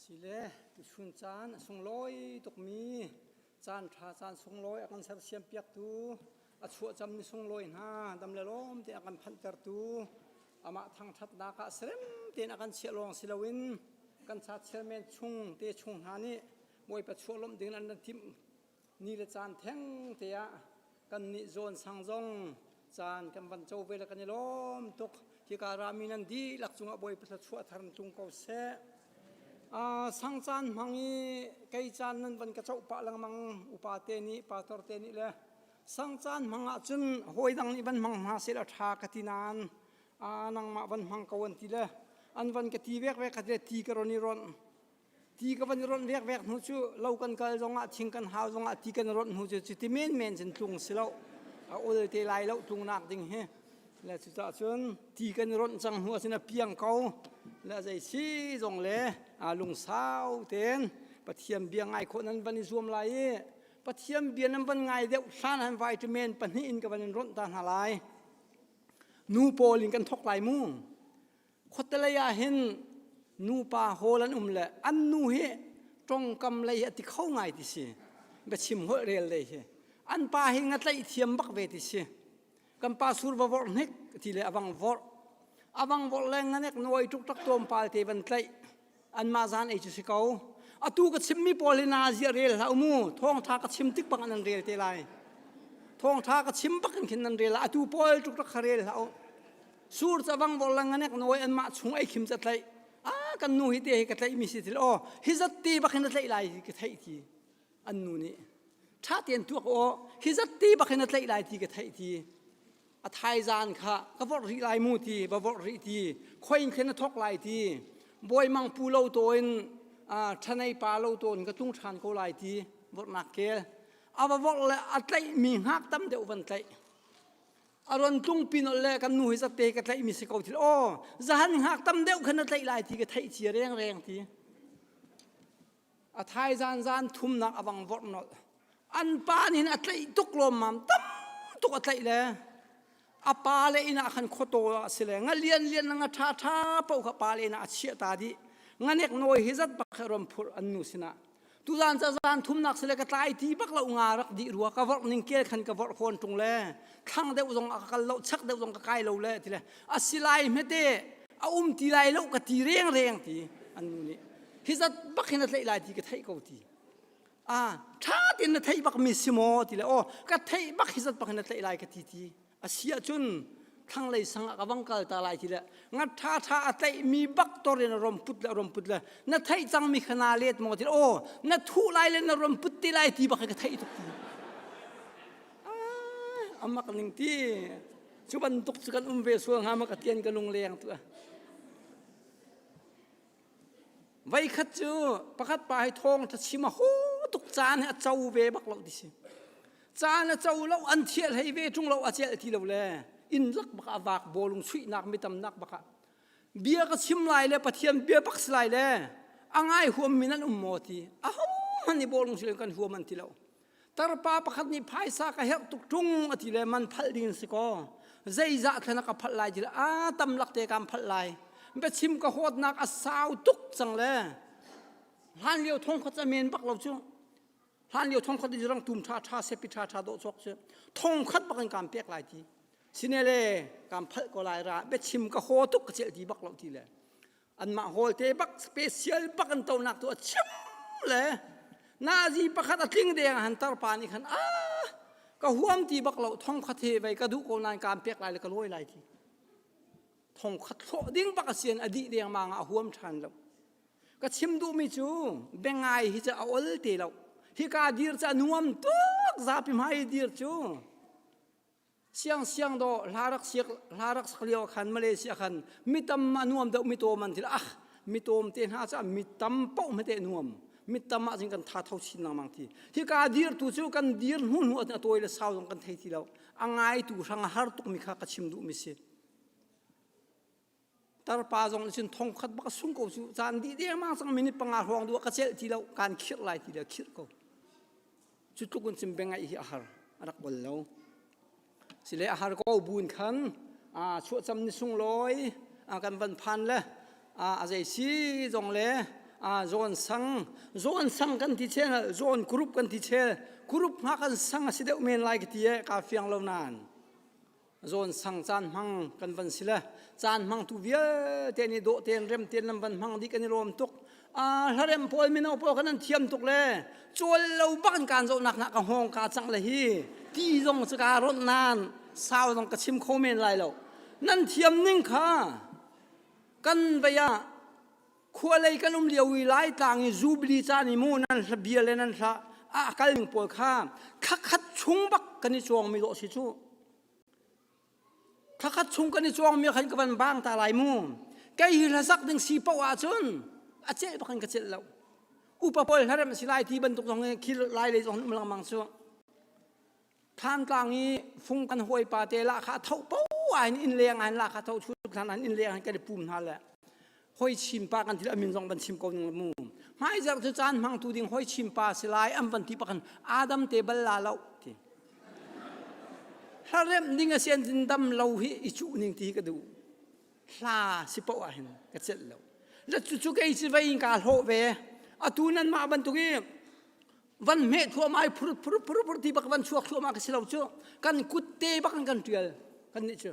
Sile tuchun caan a sunglawi tukmi caanṭha caan sunglawi a kan sersiampiaktu, a chuahcammi sunglawi hna dam le lawm tein a kan phanhtertu, amah thangṭhatnak ah serem tein a kan chiah lawng si loin kan ca chairman chung te chung hna nih Bawipa chuahlawmh dingin an kan timh. ni le caan thengte ah kannih zawn sang zong caan kan van co ve le kan i lawm tuk hika rami nan dihlak cungah bawipa thla chuah thar tung ko seh a sang caan hmang i kei caan nan van ka co pah lengmang upate nih patorte nih le sang caan hmang ah cun hawi dang nih van hmang hma se la ṭha ka ti nan a nangmah van hmang ko an ti le an van ka ti vekvek ka ti ti ka ron i ron ti ka van i rawnh vekvek hnu cu lo kan kal zongah thing kan hau zongah ti kan rawnh hnu cu cu ti menmen cun tlung si lo a ul te lai lo tlungnak ding hi le cucah cun ti kan i rawnh cang hnu ahcun a piang ko le zei si zong le aa lungsau ten pathian bia ngai khawh nan van i zuam lai i pathian bia nan van ngai deuh hlan han vitamin pahnih in ka van in rawnh ta hna lai nu pawl in kan thok lai mu khuatelei ah hin nupa hawl an um le an nu hi ṭongkam lei hi a ti kho ngai ti si biachim holh rel lei hi an pa hi ngatlaih thiam bak ve ti si kan pa sur va vorh hnik ti le avang vorh avang vorh le nganek nawi tuk tak tawm pal te van tlaih anmah zan ei cu si ko atu ka chimmi pawl hi nazia rel hlah mu thawngtha ka chim tik bang nan rel te lai thawngtha ka chim bak in khin nan rel atu pawl tuk rak kha rel hlah u sur chavang bor lang nganek noi anmah chung ei khim chatlaih a kan nu hi te hi ka tlaih mi si til o hi zat ti bak hin tlaih lai ka thei ti an nu nih tha tian tuak o hi zat ti bak hin tlaih lai ti ka thei ti a thaizaan kha ka vorh rih lai mu ti va vorh rih ti khoin khen a thok lai ti boi mang pu lo to in thanei pa lo to in ka tlung than ko lai ti vorhnak kel a va vorh le a tlaih mi hngak tam deuh van tlaih aron tlung pin le kan nu hi zatte ka tlaih mi si ko thil o zahan hngak tam deuh khan a tlaih lai ti ka theih cia reng reng ti A thaizan zan thumnak a vang vorh nolh. An pa nin a tlaih tuk lawmmam. Tam tuk a tlaih le a pa le inn ah khan khuataw a si le nga lian lian nga ṭha ṭha paoh kha pa le inn ah a chiah ta dih. Nganek nawi hi zat bak he rom phur an nu sinah. Tuzan ca zan thumnak sile ka tlai ti bak lo nga rak di rua ka vorh ning kel khan ka vorh khuan tung le thlang deuh zong a ka kal lo chak deuh zong ka kai lo le ti le a silai hmete a um ti lai lo ka ti rengreng ti an nu nih hi zat bak hin a tlaih lai ti ka theih ko ti a ṭha tein na theih bak mi si maw ti le aw ka theih bak hi zat bak hin a tlaih lai ka ti ti a si ahcun thlanglei sang ah ka vang kal ta lai ti le nga ṭha ṭha a tlaih mi bak tor in rom put le rom put le na theih cang mi kha na let maw ti le aw na thuh lai le na rom put te lai ti bak ka theih tuk ti amak ning ti cu bantuk cu kan um ve sual hnga ma ka tian ka lung leng tu a veikhat cu pakhat pa hi thawng tha chim a ho tuk caan he a co ve bak lo ti si caan a co lo an thieh hlei ve chung lo a cel ti lo le in lak baka vak bolung suihnak mi tamnak baka bia ka chim lai le pathian bia pak lai le a ngai huam min an um mo ti a ho man i bolung si kan huam an ti lo tarpa pakhat nih phaisa ka herh tuk ṭung a ti le man phal ding si kaw zeizah thlen ka phalh lai ti le a tam lak te kan phalh lai biachim ka huatnak a sau tuk cang le hlan lio thong khat a men bak lo cu hlan lio thong khat rang tum ṭha ṭha sepi ṭha ṭha dawh chok cu thong khat bak in kan pek lai ti sine le kan phalh ko lai ra biachim ka ho tuk ka cel ti bak lo ti le anmah holte bak special bak an tonak tu a chim le nazi pakhat a tling deng han tarpa nih khan a ka huam ti bak lo thong khat he vei ka duh ko nan kaan pek lai le ka lawi lai ti thong khat hlo ding bak a sian a dih deng ma a huam than lo ka chim duhmi cu bengai hi ca a ol te lo hi ka dir ca nuam tuk zapi mai dir cu Siang siang do hla rak siak hla rak sak lio khan Malaysia khan mitam a nuam deuh mi tom an til ah mi tom te hna ca mi tam poh me te nuam mi tam ah jin kan tha tho chin nang mang ti hi ka dir tu chu kan dir hnu hnu a toy le sau zong kan thei ti lo a ngai tu hrang har tuk mi kha ka chim du mi si tarpa zong nih cun thong khat bak sung ko su caan dih dengmang cang minute panga hrawng du ka cel ti lo kan khirh lai ti le khirh ko cu tluk in cim bengai hi a har a rak bol lo sile a har ko bun khan a chuahcam ni sung loi a kan van phan le a a zei si zong le a zawn sang zawn sang kan ti chel zawn group kan ti chel group nga kan sang a si deuh men lai ka ti e ka fiang lo nan zawn sang caan hmang kan van si le caan hmang tu vialte nih dawh tein rem tein lam van hmang di kan i lawm tuk a hlarem pawl mino pawl kan an thiam tuk le cual lo bakin kaan zohnak nak ka hawng ka cang le hi ti zong cu ka ronh nan sau zong ka chim kho men lai lo nan thiam ning kha kan vaya khualei kan um lio i laitlang i zubli caan i mu nan hla bia le nan hla a kalmi pawl kha thlakhat chung bak kan i cuangmi dawh si cu thlakhat chung kan i cuangmi khan ka van bang ta lai mu kei hi hlasak ding si poh ahcun a ceh bak in ka celh lo upa pawl hlarem a si lai ti bantuk zong hi khil lai le zong um langmang cu Thantlang i fung kan hawipa te la kha tho po ain in leng ain la kha tho chu than ain in leng ain kan pum hna le hoi chim pa kan thil amin zong van chim ko ning mu hmai zer chu chan mang tu ding hoi chim pa si lai am van ti pakan adam te bal la lo ti hlarem ding a sen tin dam lo hi i chu ning ti ka du hla si po a hin ka chet lo la chu chu ke chi vai ka hlo ve atu nan ma ban tu ki van meh thuamai phur phur phur phur ti bak van chuak thluama ka si lo cu kan kutte bak in kan tial kan nih cu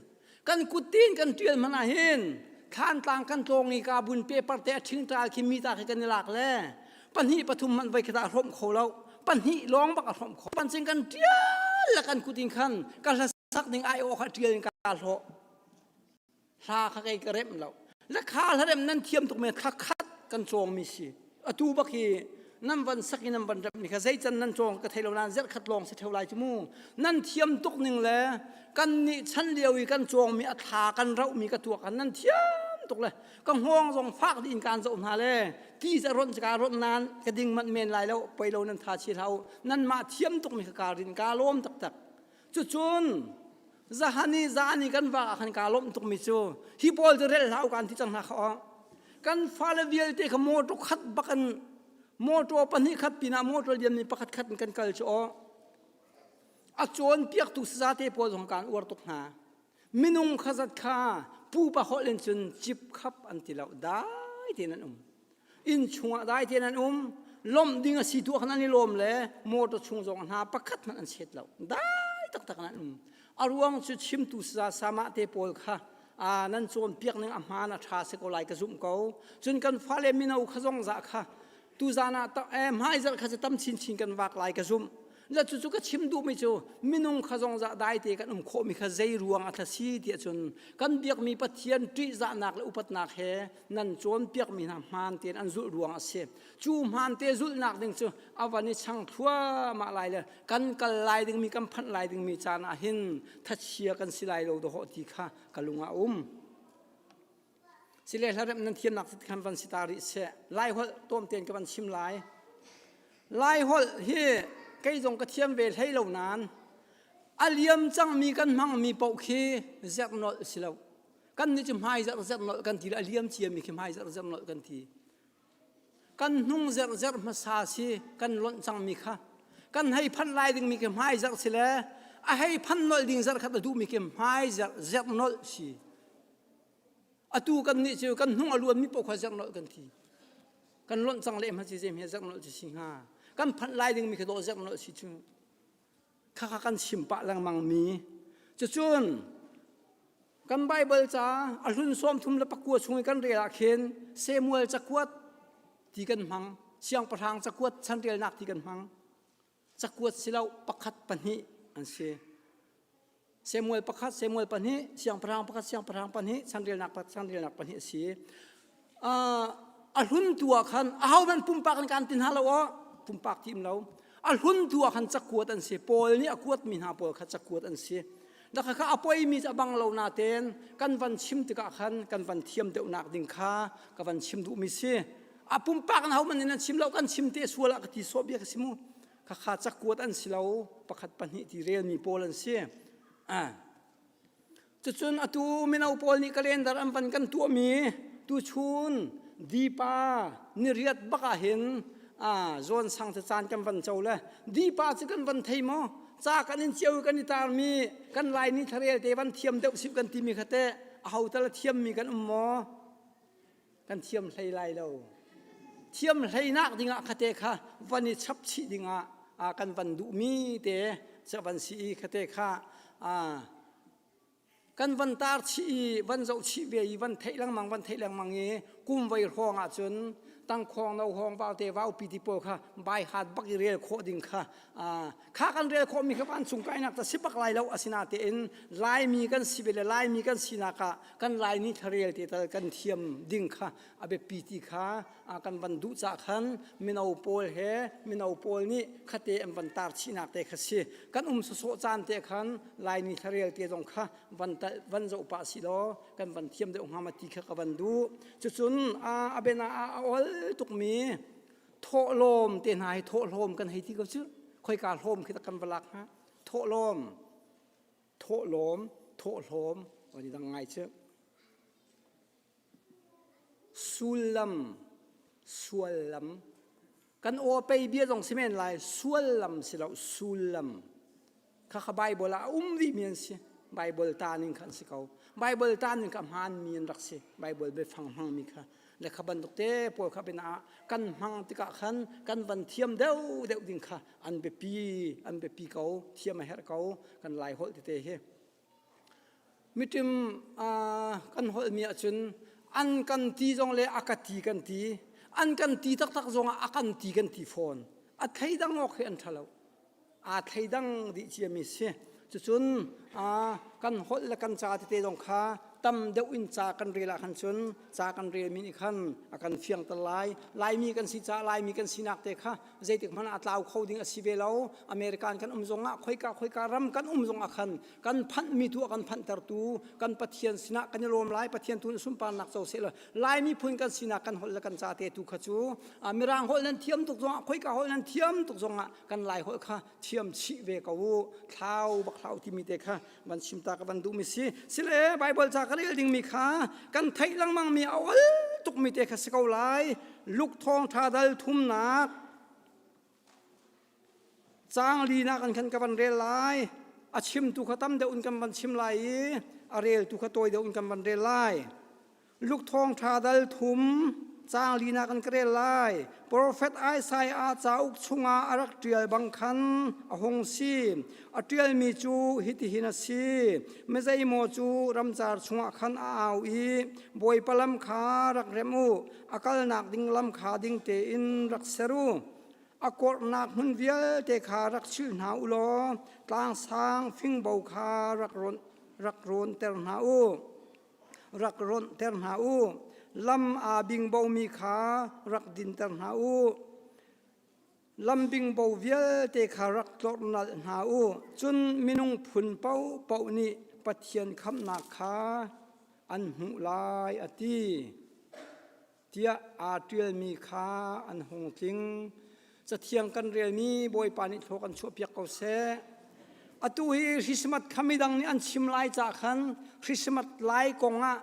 kan kutte in kan tial mana hin thlan tlang kan tlawng i ka bun paper te thing tral khi mi ta khi kan i lak le pahnih pathum man vai khata hrom kho lo pahnih long bak a hrom kho pancing kan tial la kan kutin khan kan sak ning ai aw kha ṭial in ka hlawh hla kha kei ka rem lo le kha hla rem nan thiam tuk men kha khat kan cawngmi si atu bak hi nan van sak i nan van rem ni kha zeican nan cawng ka thei lo nan zerh khat lawng si theo lai cu mu nan thiam tuk ning le kan nih chan lio i kan cawngmi a thla kan rauhmi ka tuak kan nan thiam tuk le ka hngawng zong fak di in kan zo hna le ti za ron ka ron nan ka ding man men lai lo poi lo nan tha chi hlau nan ma thiam tuk mi ka karin ka lom tak tak Cucun zahani zahani kan va ah khan kaa lawmh tukmi cu hi pawl cu rel hlah u kaan ti cang hna kha aw. Kan fale vialte kha motor khat bakin motor pahnih khat pinah motor lianmi pakhat khat in kan kal cu aw. A cawnpiaktu sazate pawl zong kaan uar tuk hna. minung khazat kha pupa holh in cun cip khap an ti lo dai tein an um inn chungah dai tein an um lawmh ding a si tu ah khan an i lawm le motor chung zong hna pakhat hmanh an set lo dai taktak an um a ruang cu chimtu sa sama te pawl kha a nan cawnpiak ning a hmaan a ṭha se ko lai ka zumh ko cun kan fale mino kha zong zah kha tu zan ah hmaizarh kha cu tam chinchin kan vak lai ka zumh Za cu ka chim duhmi cu minung kha zong za dai te kan um khawhmi kha zei ruang a si ti cun kan biakmi Pathian ṭihzahnak le upatnak he nan cawnpiakmi hna hmaan tein an zulh ruang a si. Cu hmaan te zulhnak ding cu a van i chang thluahmah lai le kan kal lai dingmi kan phanh lai dingmi caan ah hin thachia kan si lai lo dawhawh ti kha ka lung ah a um. Si le hlarem nan thiamnak ti khan van si ta rih seh lai holh tuam tein ka van chim lai lai holh hi kei zong ka thiam ve hlei lo nan a liam cangmi kan hmangmi paoh khi zerh nolh si lo kan nih cu hmai zerh zerh nolh kan ti a liam ciami khi hmai zerh zerh nolh kan ti kan hnung zerhzerh hmasa si kan lonh cangmi kha kan hei phanh lai dingmi khi hmai zerh si le a hei phanh nolh ding zerh khat a duhmi khi hmai zerh zerh nolh si atu kan nih cu kan hnung a luanmi poh kha zerh nolh kan thi kan lonh cang leh ma si zeihme zerh nolh cu si hnga kan phanh lai dingmi khi dawh zerh nolh si cu khakha kan chim pah lengmang mi cucun kan Bible ca a hlun sawm thum le pakua chung i kan rel ah khin Samuel cakuat ti kan hmang siangpahrang cakuat chanrelnak ti kan hmang cakuat si lo pakhat pahnih an si Samuel pakhat Samuel pahnih siangpahrang pakhat siangpahrang pahnih sangrilnak pakhat sangrilnak pahnih a si uh, a hlun tu ah khan ahohmanh pumpak an kan ti hna lo ah pumpak ti um lo a hlun tu ah khan cakuat an si Paul nih a kuatmi hna pawl kha cakuat an si dakha kha a poimi a bang lo na ten kan van chim tikah khan kan van thiam deuhnak ding kha ka van chim duhmi si a pumpak na homan in an chim lo kan chim te sual a ka ti so bia ka si mu khakha cakuat an si lo pakhat pahnih ti relmi pawl an si cucun atu mino pawl nih kalendar an van kan tuahmi tuchun dipa niriat bak ahhin zawn sang te caan kan van co le dipa cu kan van thei maw ca kan in ciau kan i tarmi kan laini tharel te van thiam deuh sip kan timi khate a hotal a thiammi kan um maw kan thiam hlei lai lo thiam hleinak dingah khate kha van i chapchih dingah a kan van duhmi te cha van si i khate kha a kan van tar chih i van zoh chih ve i van theih lengmang van theih lengmang i kum vai hrawng ah cun tangkhawng no hawng valte vaupi ti pawl kha bai hat bak i rel khawh ding kha a kha kan rel khawhmi kha vancung kainak ta si bak lai lo asinatein laimi kan si ve le laimi kan sinak ah kan laini thlarel te tal kan thiam ding kha a biapi ti kha kan van duh cah khan mino pawl he mino pawl nih khate an van tar chinak te kha si kan um sosawh caan te khan laini thlarel te zong kha van van zo pa si lo kan van thiam deuh hnga ma ti kha ka van duh cucun a bena a ol tukmi thawhlawm te hna hi thawhlawm kan hei ti ko cu khoika hlawm khi kan va lak hnga thawhlawm thawhlawm thawhlawm oni dang ngai cu sullam suallam kan aw pei bia zong si men lai suallam si lo sullam Khakha Bible ah a um dihmi an si. Bible ta ning kha an si ko. Bible ta ning kha hmaanmi an rak si. Bible biafang hmangmi kha. Le kha bantuk te pawl kha pinah kan hmang tikah khan kan van thiam deuh deuh ding kha an biapi an biapi ko. Thiam a herh ko. Kan lai holh tete hi. Miṭim kan holhmi ahcun an kan ti zong le a ka ti kan ti. An kan ti taktak zongah a kan ti kan ti fawn. A thleidang awk hi an ṭha lo. Aa thleidang dih ciami si. Cucun kan holh le kan ca tete zong kha tam deuh in ca kan rel ahkhan cun ca kan relmi nih khan a kan fiangter lai. Laimi kan si caah Laimi kan sinak te kha zeitik hmanh a tlau kho ding a si ve lo american kan um zong ah khoika khoika ram kan um zong ah khan kan phanh mi tu a kan phanh tertu kan pathian sinah kan i lawm lai pathian tu sunparnak co se la lai miphun kan sinak kan holh le kan ca te tu kha cu mirang holh nan thiam tuk zong ah khoika holh nan thiam tuk zong ah kan lai holh kha thiam chih ve ko u thlau bak thlau timi te kha van chim ta ka van duh mi si sile bible ca ka rel ding mi kha kan theih lengmang mi a ol tuk mi te kha si ko lai luk thong tha dal thumnak cang li nak an khan ka van rel lai a chim tu kha tam deuh in kan van chim lai i a rel tu kha tawi deuh in kan van rel lai Luk thawng ṭha dal thum caang linak an ka rel lai. Profet Isaiah cauk chungah a rak ṭial bang khan a hung si. A ṭialmi cu hitihin a si: Mizeimaw cu ramcar chungah khan a au i Bawipa lam kha rak rem u, a kalnak ding lam kha ding tein rak ser u. A kawrhnak hmun vialte kha rak chilh hna u law tlangsang fingbo kha rak rawn rak rawnter hna u. rak rawnhter hna u lam aa bingbomi kha rak dinter hna u lam bingbo vialte kha rak tlorhnal hna u cun minung phun paohpaoh nih pathian khamhnak kha an hmuh lai a ti tiah aa ṭialmi kha an hung tling. Cathiang kan relmi Bawipa nih thlo kan chuahpiak ko seh. Atu hi Christmas kha midang nih an chim lai cah khan Christmas lai kong ah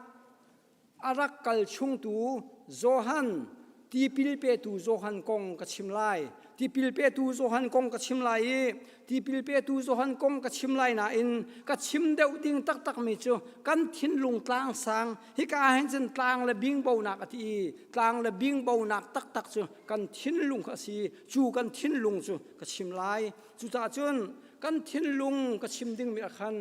a rak kal chungtu Johan tipil petu Johan kong ka chim lai. Tipil petu Johan kong ka chim lai i tipil petu Johan kong ka chim lai nain ka chim deuh ding taktakmi cu kan thinlung tlangsang Hika hin cun tlang le bingbonak a ti i tlang le bingbonak taktak cu kan thinlung a si cu kan thinlung cu ka chim lai cucaah cun kan thinlung ka chim dingmi ah khan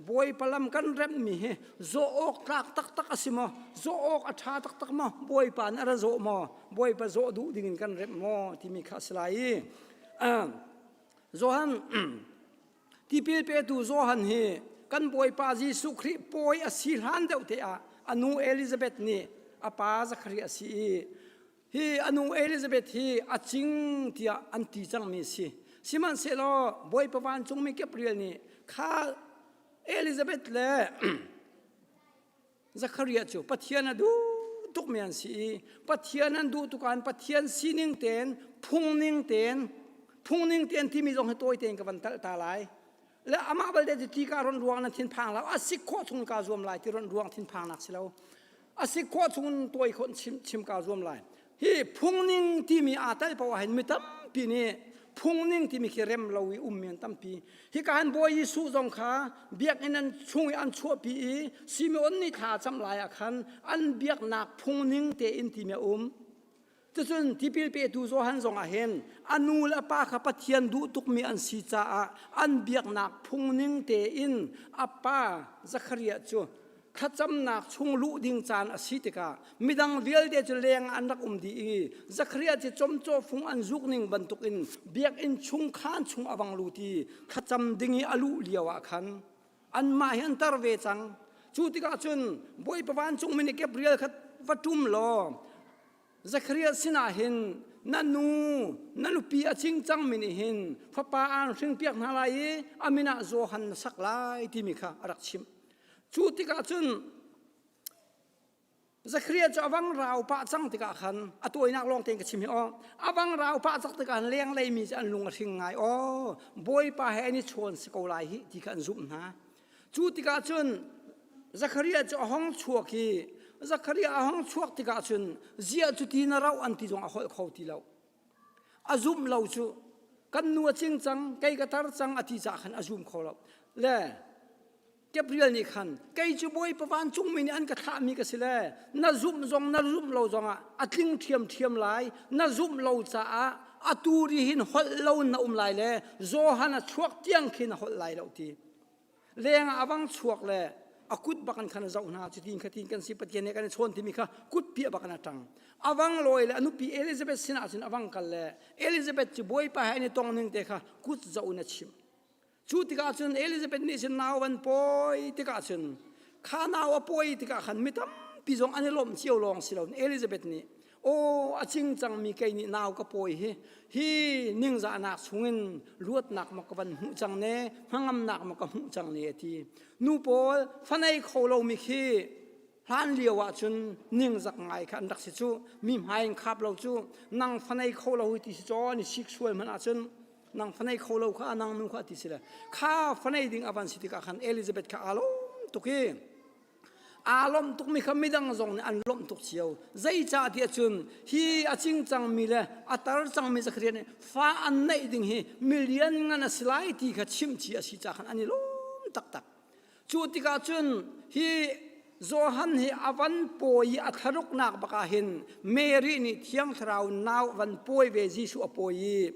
bawipa lam kan remhmi hi zawh awk tlak taktak a si maw zawh awk a ṭha taktak maw bawipa nih a ra zawh maw bawipa zawh duh dingin kan remh maw timi kha a si lai i Johan tipil petu Johan hi kan Bawipa Jesuh Khrih pawi a si hlan deuh te ah a nu Elizabeth nih a pa Zakhari a si i hi a nu Elizabeth hi a cing tiah an ti cangmi si sihmanhsehlaw Bawipa vancungmi Gabriel nih kha Elizabeth le Zachariah cu Pathian a duh tukmi an si i Pathian an duh tukan Pathian sining tein phungning tein phungning tein timi zong hi tawi tein ka van talh ta lai le amah balte cu ti ka ron ruang nan thinphang lo a sik khawh chung ka zuam lai ti ron ruang thinphang nak si lo a sik khawh chung tawi khon chim chim ka zuam lai hi phungning timi aa tel paoh ah hin mi tampi nih phungning timi khi rem lo i um mi an tampi hi ka han bawi Jesuh zong kha biakinn an chung i an chuahpi i Simeon nih thla cam lai ah khan an biaknak phungning tein timi a um cucun tipil petu Johan zong ah hin a nu le a pa kha Pathian duh tukmi an si caah an biaknak phungning tein a pa Zachariah cu thlacamnak chung luh ding caan a si tikah midang vialte cu leng an rak um dih i Zachariah cu comcaw fung an zuk ning bantukin biakinn chung khan chung a vang lut i thlacam ding i a luh lio ah khan anmah hi an tar ve cang cu tikah cun bawipa vancungmi nih Gabriel kha va ṭum law Zachariah sinah hin na nu na nupi a cing cangmi nih hin fapa aan hringpiak hna lai i a min ah Johan na sak lai timi kha a rak chimh. Cu tikah cun Zachariah cu avang rau pah cang tikah khan a tawinak lawng tein ka chim hi aw avang rau pah cang tikah lenglei mi cu an lung a hring ngai aw Bawipa he an i chawn si ko lai hi ti kha an zumh hna Cu tikah cun Zachariah cu a hong chuak i Zachariah a hong chuak tikah cun ziah cu ti na rauh an ti zong a holh kho ti lo. A zumh lo cu kan nu a cing cang kei ka tar cang a ti caah khan a zum kho lo le Gabriel nih khan kei cu Bawipa vancungmi nih an ka thlahmi ka si le na zumh zong na zumh lo zongah a tling ṭhiamṭhiam lai na zumh lo caah atu ri hin holh lo na um lai le Johan a chuak tiang khin a holh lai lo ti lengah a bang chuak le a kut bakan khan zoh hna cu tin khatin kan si pathian he kan i chawn timi kha kut pi a bakan a ṭang awang lawi le anupi elizabeth sinah cun awang kal le elizabeth cu bawipa he an i tong ning te kha kut zoh in a chimh cu tikah cun elizabeth nih cun nau an pawi tikah cun kha nau a pawi tikah khan mi tampi zong an i lawmh cio lawng si lo elizabeth nih Aw a cing cangmi kei nih nau ka pawi hi hi ningzahnak chungin luatnak ma ka van hmuh cang ne hnangamnak ma ka hmuh cang ne ti nu pawl fanei kho lomi khi hlan lio ah cun ningzak ngai kha an rak si cu mi hmai in khap lo cu nang fanei kho lo ti si caw ni sik sual hmanh ah cun nang fanei kho lo kha nang nu kha ti si le kha fanei ding avan si tikah khan Elizabeth kha alawm tuk hi aa lawmh tukmi kha midang zong nih an lawmh tuk cio zeicahtiah cun hi a cing cangmi le a tar cangmi zakariah nih fa an neih ding hi milian ngan a si lai ti kha chimci a si caah khan an i lawm taktak cu tikah cun hi Johan hi a van pawi i a thlaruknak bakah hin Mary nih thiang thlarau nau a van pawi ve Jesuh a pawi i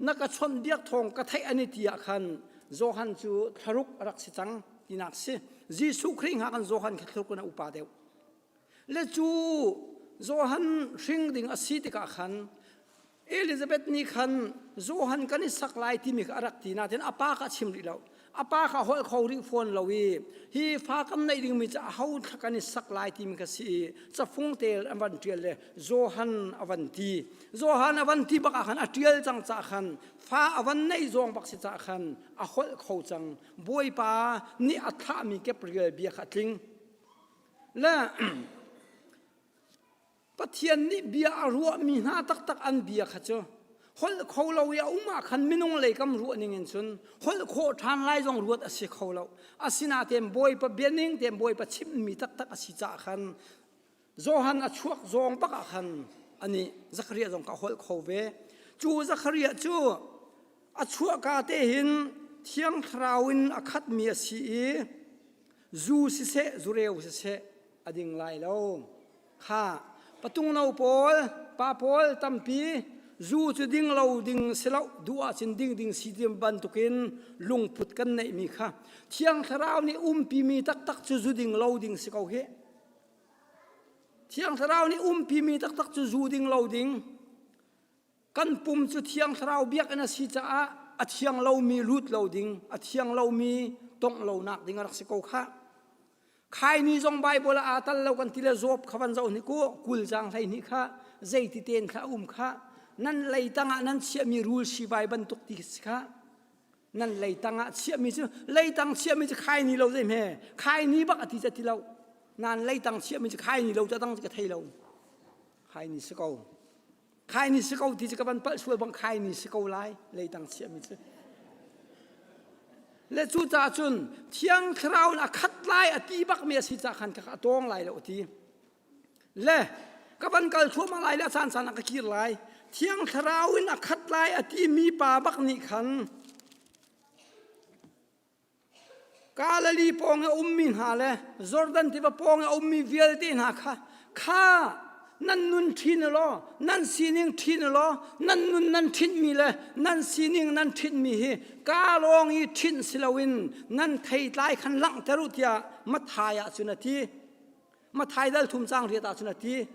na ka chawnhbiak thawng ka theih ani ti ah khan Johan cu thlaruk a rak si cang tinak si Jesuh Khrih hngak in Johan kha thlaruk in a upa deuh le cu Johan hring ding a si tikah khan Elizabeth nih khan Johan kan i sak lai timi kha a rak ti nain a pa kha a chim rih lo a pa kha holh kho rih fawn lo i hi fa kam neih dingmi cu a ho thla kan i sak lai timi ka si i cafung tel an van ṭial le Johan a van ti Johan a van ti bak ah khan a ṭial cang cah khan fa a van neih zong bak si cah khan a holh kho cang bawipa nih a thahmi kep rial bia kha a tling le Pathian nih bia a ruahmi hna taktak an bia kha cu holh kho lo i a um ah khan minung lei kam ruah ning in cun holh khawh ṭhan lai zong ruat a si kho lo asinain Bawipa bianing tein Bawipa chimmi taktak a si caah khan Johan a chuak zong bak ah khan ani Zakaria zong kha a holh kho ve cu Zakaria cu a chuahka te hin thiang thlarau in a khatmi a si i zu siseh zureu siseh a ding lai lo kha patung no pawl pa pawl tampi zu cu ding lo ding si lo duh ah cun ding ding si tiam bantukin lungput kan neihmi kha thiang thlarau nih umpimi taktak cu zu ding lo ding si ko hi thiang thlarau nih umpimi taktak cu zu ding lo ding kan pum cu thiang thlarau biakinn a si caah a thiang lomi lut lo ding a thiang lomi tongh lonak ding a rak si ko kha khai ni zong bible ah aa tal lo kan ti le zop kha van zoh ni ku kul jang hlei ni kha zeiti ten kha um kha nan lei tangah nan chiahmi rul sibai bantuk ti si kha nan lei tangah chiahmi cu lei tang chiahmi cu khai ni lo zei hme khai ni bak a ti ca ti lo nan lei tang chiahmi cu khai ni lo ca tang ka thei lo khai ni si ko khai ni si ko ti cu ka van palh sual bang khai ni si ko lai lei tang chiahmi cu le cu caah cun thiang thlarau in a khat lai a ti bak mi a si ca khan ka tawng lai lo ti le ka van kal thluahmah lai le a caan caan a ka kir lai thiang thlarau in a khat lai a ti mi pa bak nih khan Galilee pawng i a ummi hna le Jordan tiva pawng i a ummi vialte hna kha kha nan nun ṭhin u law nan sining ṭhin u law nan nun nan ṭhinmi le nan sining nan ṭhinmi hi ka lawng i ṭhinh si loin nan theitlai khan langhter u tiah Matthai ah cun a ti. Matthai dal thum caang riat ah cun a ti.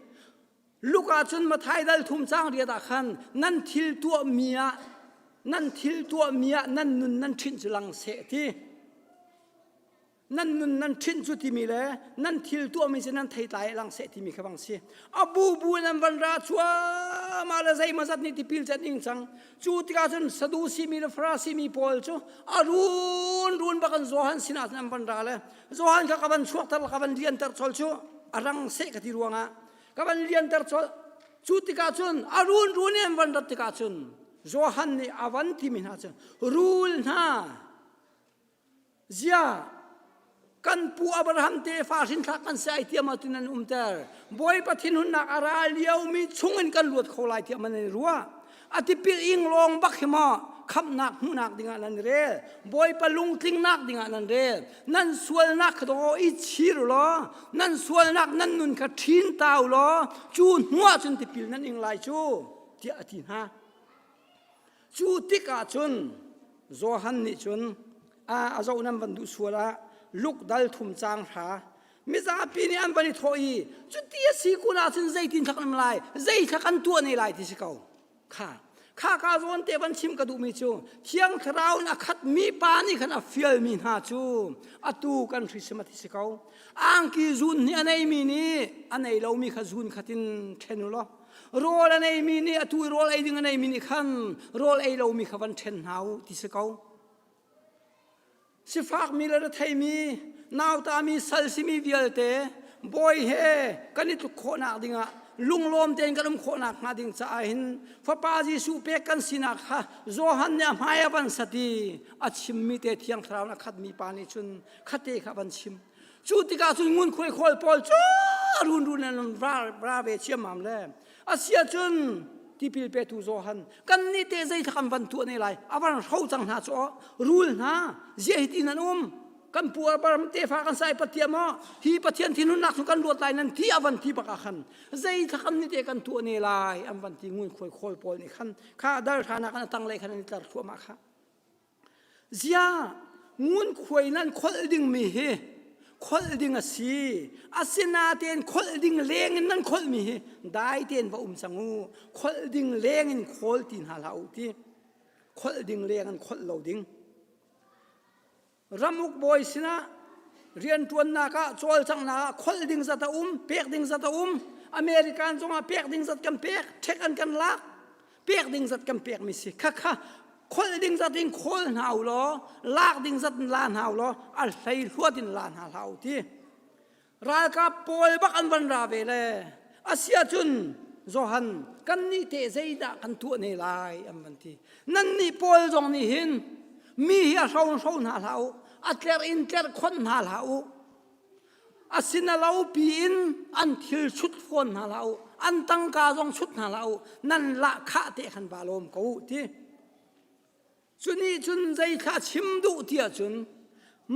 Luk ah cun Mathai dal thum cang riat ah khan nan thil tuahmi ah nan thil tuahmi ah nan nun nan ṭhinh cu lang seh ti nan nun nan ṭhinh cu timi le nan thil tuahmi cu nan theitlai lang seh timi kha bang si a bu bu in an van ra cuamah le zeima zat nih tipil can ing cang cu tikah cun sadusi mi le farasi mi pawl cu a run run bak an Johan sinah cun an van ra le Johan kha ka van chuakter ka van lianter chol cu a rang seh ka ti ruangah ka van lianter cawlh cu tikah cun a run run in van rat tikah cun Johan nih a van timi hna cun rul hna zia kan pu Abraham tefa hrinthlak kan si ai tiam ah tin an umter bawipa thinhunnak a ra lio mi chung in kan luat kho lai tiah man an i ruah atipil ing long bak hi ma khamnak hmuhnak dingah nan rel bawipa lungtlingnak dingah nan rel nan sualnak kha daw i chir law nan sualnak nan nun kha ṭhin tau law cu hnuah cun tipil nan ing lai cu tiah a ti hna cu tikah cun Johan nih cun a zoh nan van duh sual ah luk dal thum cang hra mizapi nih an van i thawh i cuti a si kun ahcun zeitin thlak nan lai zei thlak an tuah ne lai ti si ko kha kha ka zawn te van chim ka duhmi cu thiang thlarau in a khat mi pa nih khan a fialmi hna cu atu kan hrisam a ti si ko angki zun nih a neimi nih a nei lomi kha zun khatin ṭhen u law rawl a neimi nih atu i rawl ei ding a neimi nih khan rawl ei lomi kha van ṭhen hna u ti si ko sifakmi le retheimi nautami sal simi vialte bawi he kan i tluk khawhnak dingah lunglawm tein kan um khawhnak hnga ding caah hin fapa Jesuh pek kan sinak kha Johan nih a hmai a van sati a chimmi te thiang thlarau na khatmi pa nih cun khate kha van chim cu tikah cun ngunkhuai khual pawl cu runrun an ra ra ve chiamam le asia cun tipil petu zohan kan nih te zei thak an van tuah ne lai avan hro cang hna cu rul hna zia hi tin an um kan puar baram te fa kan sai patiam ho hi pathian thinun nak kan luat lai nan ti avan ti baka khan zei thakam ni te kan tuah ne lai an van ti ngun khoi khol pawl ni khan kha dal thana kan atang le khan ni tlar thua ma kha Ziah ngunkhuai nan kholh dingmi hi kholh ding a si asinain kholh ding leng in nan kholhmi hi dai tein va um cang u kholh ding leng in khawl ti hna hlah u ti kholh ding leng in kholh lo ding ramuk bawi sinah rianṭuannak ah cawlcanghnak ah kholh ding zat a um pek ding zat a um american zongah pek ding zat kan pek ṭhek an kan lak pek ding zat kan pekmi si khakha kholh ding zat in khawl hna u law lak ding zat in la hna u law al hlei hluat in la hna hlah u ti ralkap pawl bak an van ra ve le asia cun Johan kan nih te zeidah kan tuah ne lai an van ti nan nih pawl zong nih hin mi hi a hro hro hna hlah u a tler in tler khon hna hlah u A si na lo piin an thil sut fawn hna la u, an tangka zong sut hna la u, nan lahkhah te khan ba lawm ko ti. Cuni cun zeithla chim duh tiah cun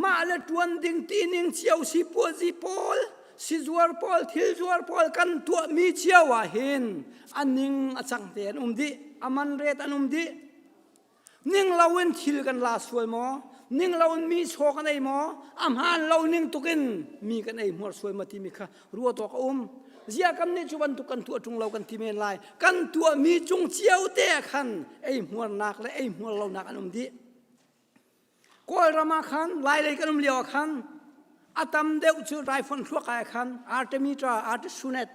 mah le ṭuan ding tining cio sipuazi pawl sizuar pawl thilzuar pawl kan tuahmi cio ah hin a ning a cang te an um dih, a man ret an um dih. ning loin thil kan la sual maw ning loin mi saw kan ei maw a hmaan lo ning tukin mi kan ei hmuar sual ma timi kha ruat awk a um zia kam nih cu bantuk kan tuah ṭung lo kan ti men lai kan tuah mi cung cio te khan ei hmuarnak le ei hmuar lonak an um dih kawlram ah khan lailei kan um lio ah khan a tam deuh cu raifon thluak ah khan artemi tra artisunet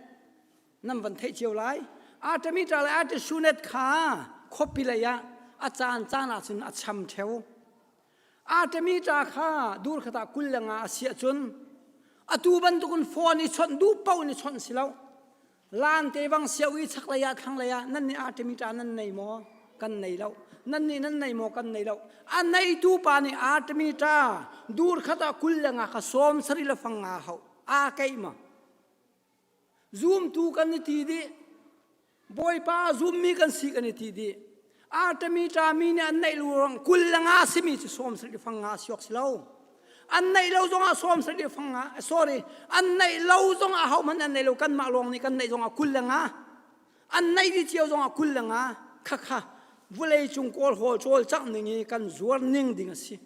nan van theih cio lai artemitra le artesunet kha khuapi lei ah a caan caan ah cun a cham theo artemitra kha dur khata kul le nga a siah cun atu bantukin phone i chawnh duh paoh in i chawnh si lo lan te bang siau i chak lei ah thlang lei ah nan nih artemitra nan nei maw kan nei lo nan nih nan nei maw kan nei lo a neitu pa nih artemitra dur khata kul le nga kha som sari le fang nga hau aa keih ma Zumtu kan i ti dih. Bawipa zummi kan si kan i ti dih. Artemi ṭami nih an neih lu rang kul le nga simi cu sawm sarih fang nga a siok si lo. An neih lo zongah sawm sarih fang nga, sorry, an neih lo zongah hohmanh an neih lo. Kanmah lawng nih kan neih zongah kul le nga. An neih dih cio zongah kul le nga. Khakha vawlei cung kawlhawl cawl cang ning hi kan zuar ning ding a si.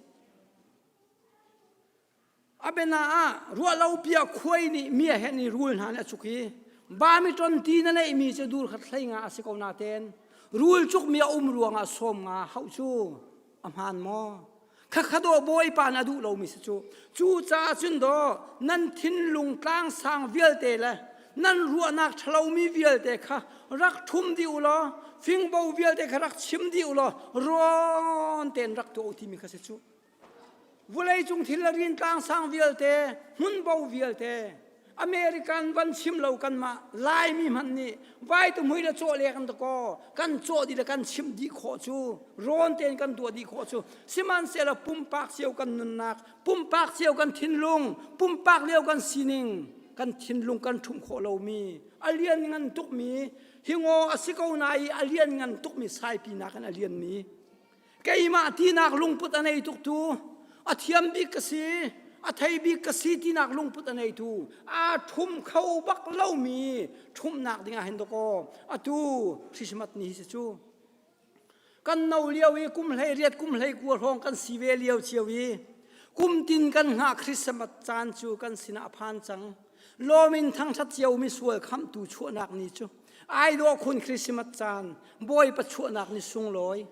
Abena ah ruahlopiah khuai nih mia he ni rul hna nih a cuk i bami ton ti na neihmi cu dur khat hlei nga a si ko natein rul cukmi a um ruangah sawm nga hauh cu a hmaan maw? Khakha daw Bawipa na duh lomi si cu. Cu caah cun daw nan thinlung tlang sang vialte le nan ruahnak ṭhalomi vialte kha rak ṭhum dih u law fingbo vialte kha rak chim dih u law rawn tein rak tuah u timi kha si cu. Vawleicung thil a rin tlang sang vialte, hmunbo vialte, American van chim lo kanmah Laimi hman nih vai tu mui le cawh le kan takaw kan cawh di le kan chim di khawh cu rawn tein kan tuah di khawh cu sihmanhsehlaw pumpak cio kan nunnak pumpak cio kan thinlung pumpak lio kan sining kan thinlung kan ṭhum khawh lomi a lian ngan tukmi hingaw a si ko na i a lian ngan tukmi saipinak in a lianmi keimah tinak lungput a nei tuk tu a thiam bik ka si a thei bik ka si tinak lungput a nei tu aa ṭhum kho bak lomi ṭhumnak dingah hin dawkaw atu Christmas ni hi si cu kan no lio i kum hlei riat kum hlei kua hrawng kan si ve lio cio i kum tin kan hngah Christmas caan cu kan sinah a phan cang lawm in thangṭhat cio misual khamtu chuahnak ni cu ai dawh khun Christmas caan bawipa chuahnak ni sunglawi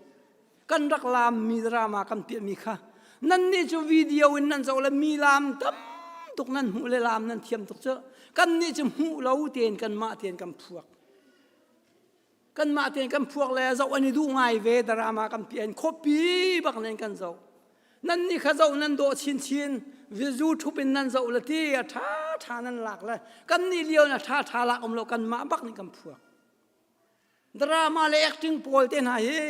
kan rak laam mi drama kan piahmi kha nan nih cu video in nan zoh le mi laam tam tuk nan hmuh le laam nan thiam tuk cu kan nih cu hmuh lo tein kanmah tein kan phuak kanmah tein kan phuak le zoh an i duh ngai ve drama kan pian khuapi bak nen kan zoh nan nih kha zoh nan dawh chinchin vizu thup in nan zoh le ti a tha tha nan lak le kan nih lio na tha tha lak um lo kanmah bak nih kan phuak drama le acting pawl te hna hi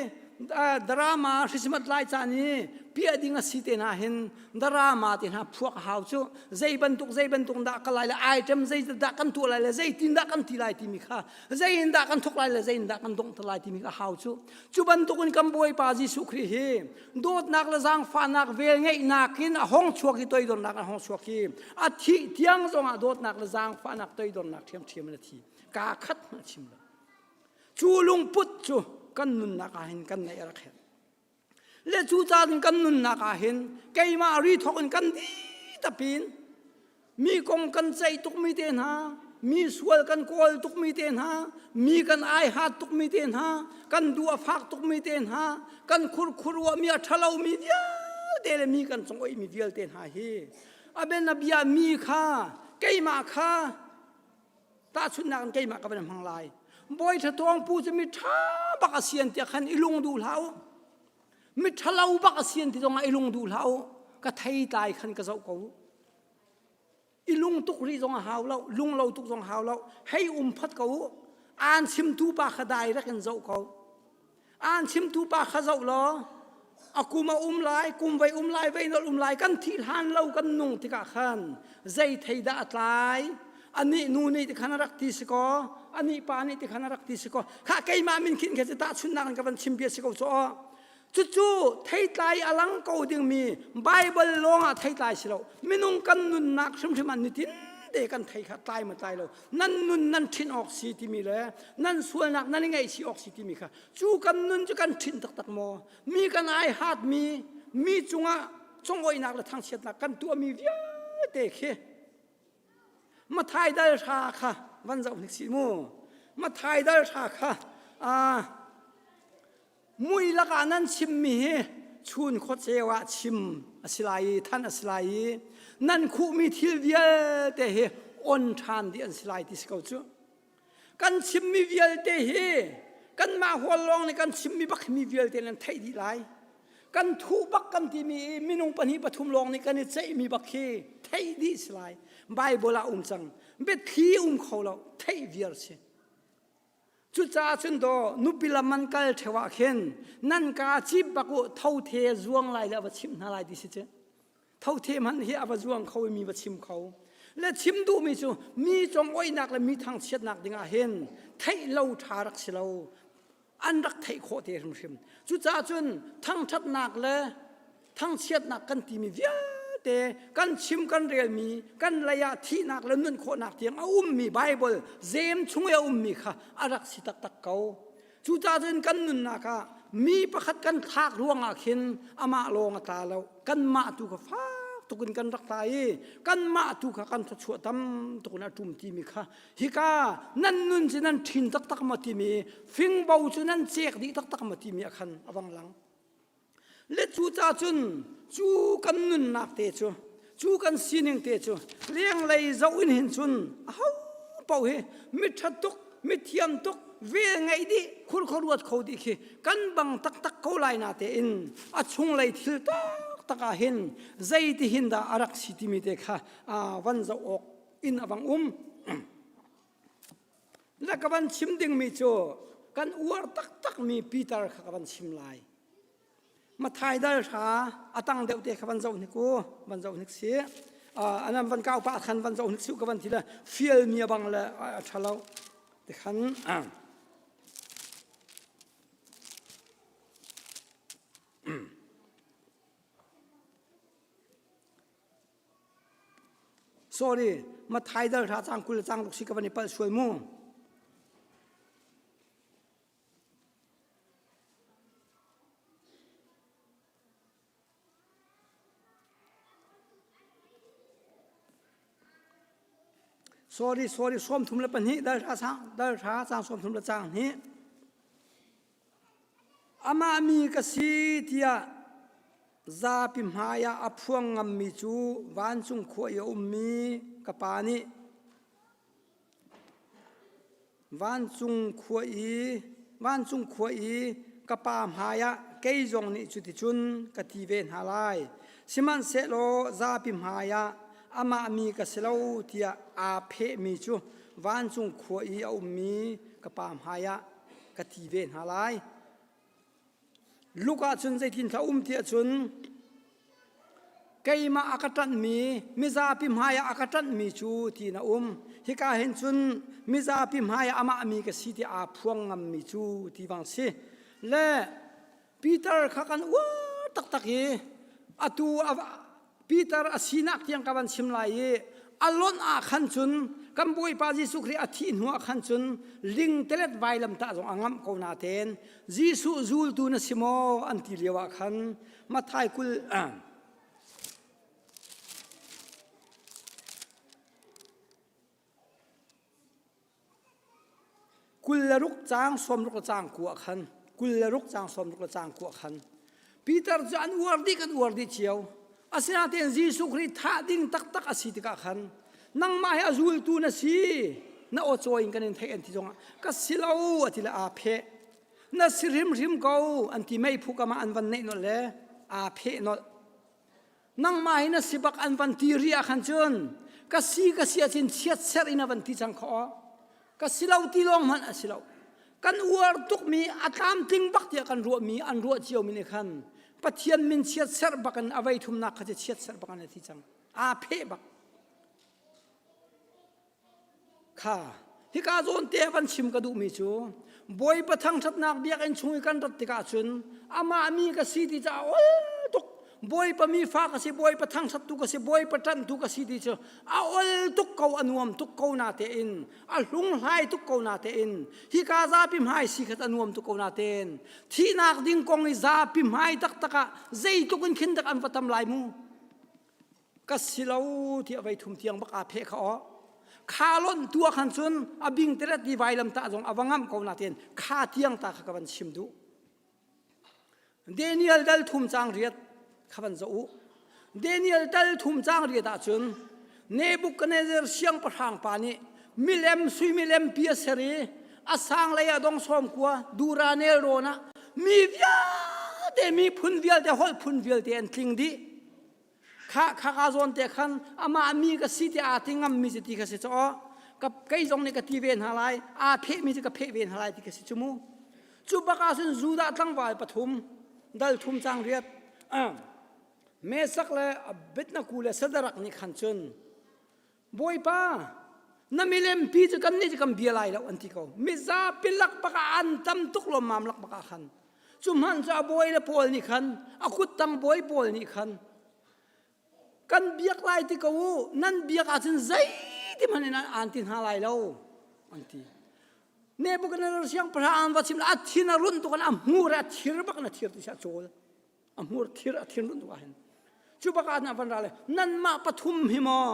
drama christmas lai caan i piah ding a si te hna hin drama te hna phuak hau cu zei bantuk zei bantuk dah ka lai le item zei dah kan tuah lai le zei tin dah kan ti lai timi kha Zeihindah kan thuk lai le zeihindah kan donghter lai timi a hau cu. Cu bantukin kan Bawipa Jesuh Khrih hi dawtnak le zaangfahnak velngeihnak in a hong chuak i toidornak a hong chuak i a thih tiang zongah dawtnak le zaangfahnak toidornak ṭhiamṭhiam in a thi. Kaa khat hmanh a chim lo. Cu lungput cu kan nunnak ah hin kan naih a rak herh. le cu caan kan nunnak ah hin keimah ri thawk in kan di tapin mi kong kan ceih tukmi te hna mi sual kan kawl tukmi te hna mi kan aihat tukmi te hna kan du a fak tukmi te hna kan khurkhuruahmi a ṭhalomi vialte le mi kan cung oihmi vialte hna hi aben a bia mi kha keimah kha tahchunhnak in keimah ka van hmang lai bawi thlatuang pu cu mi ṭha bak a sian tiah khan i lung duh hlah u mi ṭhalo bak a sian ti zongah i lung duh hlah u ka thei tlai khan ka zoh ko u i lung tuk rih zong a hau lo lung lo tuk zong hau lo hei um phot ko u aan chimtu pa kha direct in zoh ko aan chimtu pa kha zoh law a kum a um lai kum vai um lai vei nol um lai kan thi hlan lo kan nung tikah khan zei thei dah a tlai anih nu nih tikhan a rak ti si ko anih pa nih tikhan a rak ti si ko kha keimah min khin khe cu tahchunnak in ka van chim bia si ko caw cucu theitlai a lang ko dingmi bible lawngah theitlai si lo minung kan nunnak hrimhrim an nitin te kan thei kha tlai ma tlai lo nan nun nan ṭhin awk si timi le nan sualnak nan i ngaih si awk si timi kha cu kan nun cu kan ṭhin taktak maw mi kan ai hatmi mi cungah congoihnak le thangchiatnak kan tuahmi vialte khi Mathai dal hra kha van zoh hnik si mu Mathai dal hra kha aa Mui lakah nan chimmi hi chun khuacheu ah chim a si lai i thanh a si lai i nan khuhmi thil vialte hi on ṭhan dih an si lai ti si ko cu. Kan chimmi vialte hi kanmah hual lawng nih kan chimmi bak mi vialte nan theih dih lai. Kan thuh bak kan timi i minung pahnih pathum lawng nih kan i ceihmi bak khi theih dih si lai. Baibal ah um cang. Biathli um kho lo, theih viar si. Cucaah cun do nupi lam an kal ṭheu ah khin nan ka cip bak u tho the zuang lai le a va chimh hna lai ti si cu tho the hmanh hi a va zuang kho i mi va chim kho le chim duhmi cu mi com oihnak le mi thangchiatnak dingah hin theih lo ṭha rak si lo an rak theih khawh te hrimhrim cucaah cun thangṭhatnak le thangchiatnak kan timi vialte kan chim kan relmi kan leiah thihnak le nun khawhnak tiang a ummi Baibal zem chung i a ummi kha a rak si taktak ko cucah cun kan nunnak ah mi pakhat kan thlak ruangah khin amah lawng a tla lo kanmah tu kha fak tukin kan rak tla i kanmah tu kha kan thluachuah tam tukin a ṭum timi kha hika nan nun cu nan ṭhin taktak ma timi fingbo cu nan cek dih taktak ma timi a khan a vang lang le cu ca cun cu kan nunnak te cu cu kan sining te cu lenglei zoh in hin cun a ho paoh hi mitṭhat tuk mithiam tuk vel ngeih dih khurkhur ruat kho dih khi kan bang taktak ko lai na tein a chunglei thil taktak ah hin zeitihin dah a rak si timi te kha van zoh awk in a bang um Na ka van chim dingmi cu kan uar taktakmi Peter kha ka van chim lai. Mathai dal hra a tang deuh te kha van zoh hnik u van zoh hnik si anan van kau pa khan van zoh hnik si ka van ti le fial mi bang le a tha lo te khan Sorry, Matthai dal hra cang kul le cang ruk si ka van i palh sual mu. Sorry, sorry, som thum le pahnih dal hra sang, dal hra sang som thum le cang hnih. Amah mi ka si tiah zapi hmai ah a phuang ngammi cu vancung khua i a ummi ka pa nih vancung khua i vancung khua i ka pa hmai ah kei zong nih cuticun ka ti ve hna lai sihmanhsehlaw zapi hmai ah amah mi ka si lo tiah aa phehmi cu vancung khua i a ummi ka pa hmai ah ka thi ve hna lai Luka cun zeitin thla um ti ahcun keimah a ka ṭanhmi mizapi hmaiah a ka ṭanhmi cu ti na um hika hin cun mizapi hmaiah amah mi ka si ti aa phuang ngammi cu ti bang si le Peter kha kan uar taktak i atu Peter a sinak tiang ka van chim lai i a lonh ah khan cun kan Bawipa Jesuh Khrih a thih hnu ah khan cun lingtelet vailam tah zong a ngamh ko na ten Jesuh zultu na si maw an ti lio ah khan Matthai kul Kul le ruk caang sawmruk le caang kua khan kul le ruk caang sawmruk le caang kua khan Peter cu an uar dih kan uar dih cio asinain Jesuh Khrih thah ding taktak a si tikah khan nangmah hi a zultu na si na aw in kan in theih an ti zongah ka si lo a ti le aa pheh na si hrimhrim ko an ti mei phu kam ah an van neih nolh le aa pheh nolh nangmah in a si bak an van ti ri ah khan cun ka si ka si ahcun chiat ser in a van ti cang khaw ka si lo ti lawng hmanh a si lo kan uar tukmi a tlamtling bak tiah kan ruahmi an ruah cio mi nih khan pathian min chiat ser bak in avei thumnak kha cu chiat ser bak an a thi cang aa pheh bak kha hika zawn te van chim ka duhmi cu bawipa thangṭhatnak biakinn chung i kan rat tikah cun amah mi ka si ti caah ol tuk bawipa mi fa ka si bawipa thangṭhattu ka si bawipa ṭanhtu ka si ti cu a ol tuk ko a nuam tuk ko na tein a hlunghlai tuk ko na tein hika zapi hmai si khat a nuam tuk ko na tein thihnak ding kong i zapi hmai taktak ah zeitluk in khin tak an va tam lai mu ka si lo tiah vei thum tiang bak aa pheh kha aw kha lon tu khan cun a bing teret ni vai lam ta zong a vangam ko na ten kha tiang ta kha ka van sim du Daniel dal thum chang riat kha van zo u Daniel dal thum chang riat ah cun Nebuchadnezzar siang pahrang pa nih milem sui milem pi a ser i a sang lei a dong som kua duranel rona mi vialte mi phun vialte holh phun vialte an tling dih kha kha ka zawn te khan amah mi ka si ti aa ti ngam mi si ti ka si caw ka kei zong nih ka ti ve hna lai aa pheh mi si ka pheh ve hna lai ti ka si cu mu cu baka sun judah tlangval pathum dal thum chang riat mesak le abitnaku le sadarak nih khan cun Bawipa, na milempi cu kan nih cu kan bia lai lo an ti ko. Mizapi lak baka an tam tuk lomam lak baka khan. Cu hman cu a bawi le pawl nih khan, a kuttang bawi pawl nih khan, kan biak lai ti ko u, nan biak ahcun zeiti hmanh in aan ti hna lai lo, an ti. Nebuchadnezzar siangpahrang an va chim le a thin a run tuk in a hmur a thir bak na thir ti siah cawl. a hmur thir a thinrun tuk ahhin cu bak ah van ra le nanmah pathum hi maw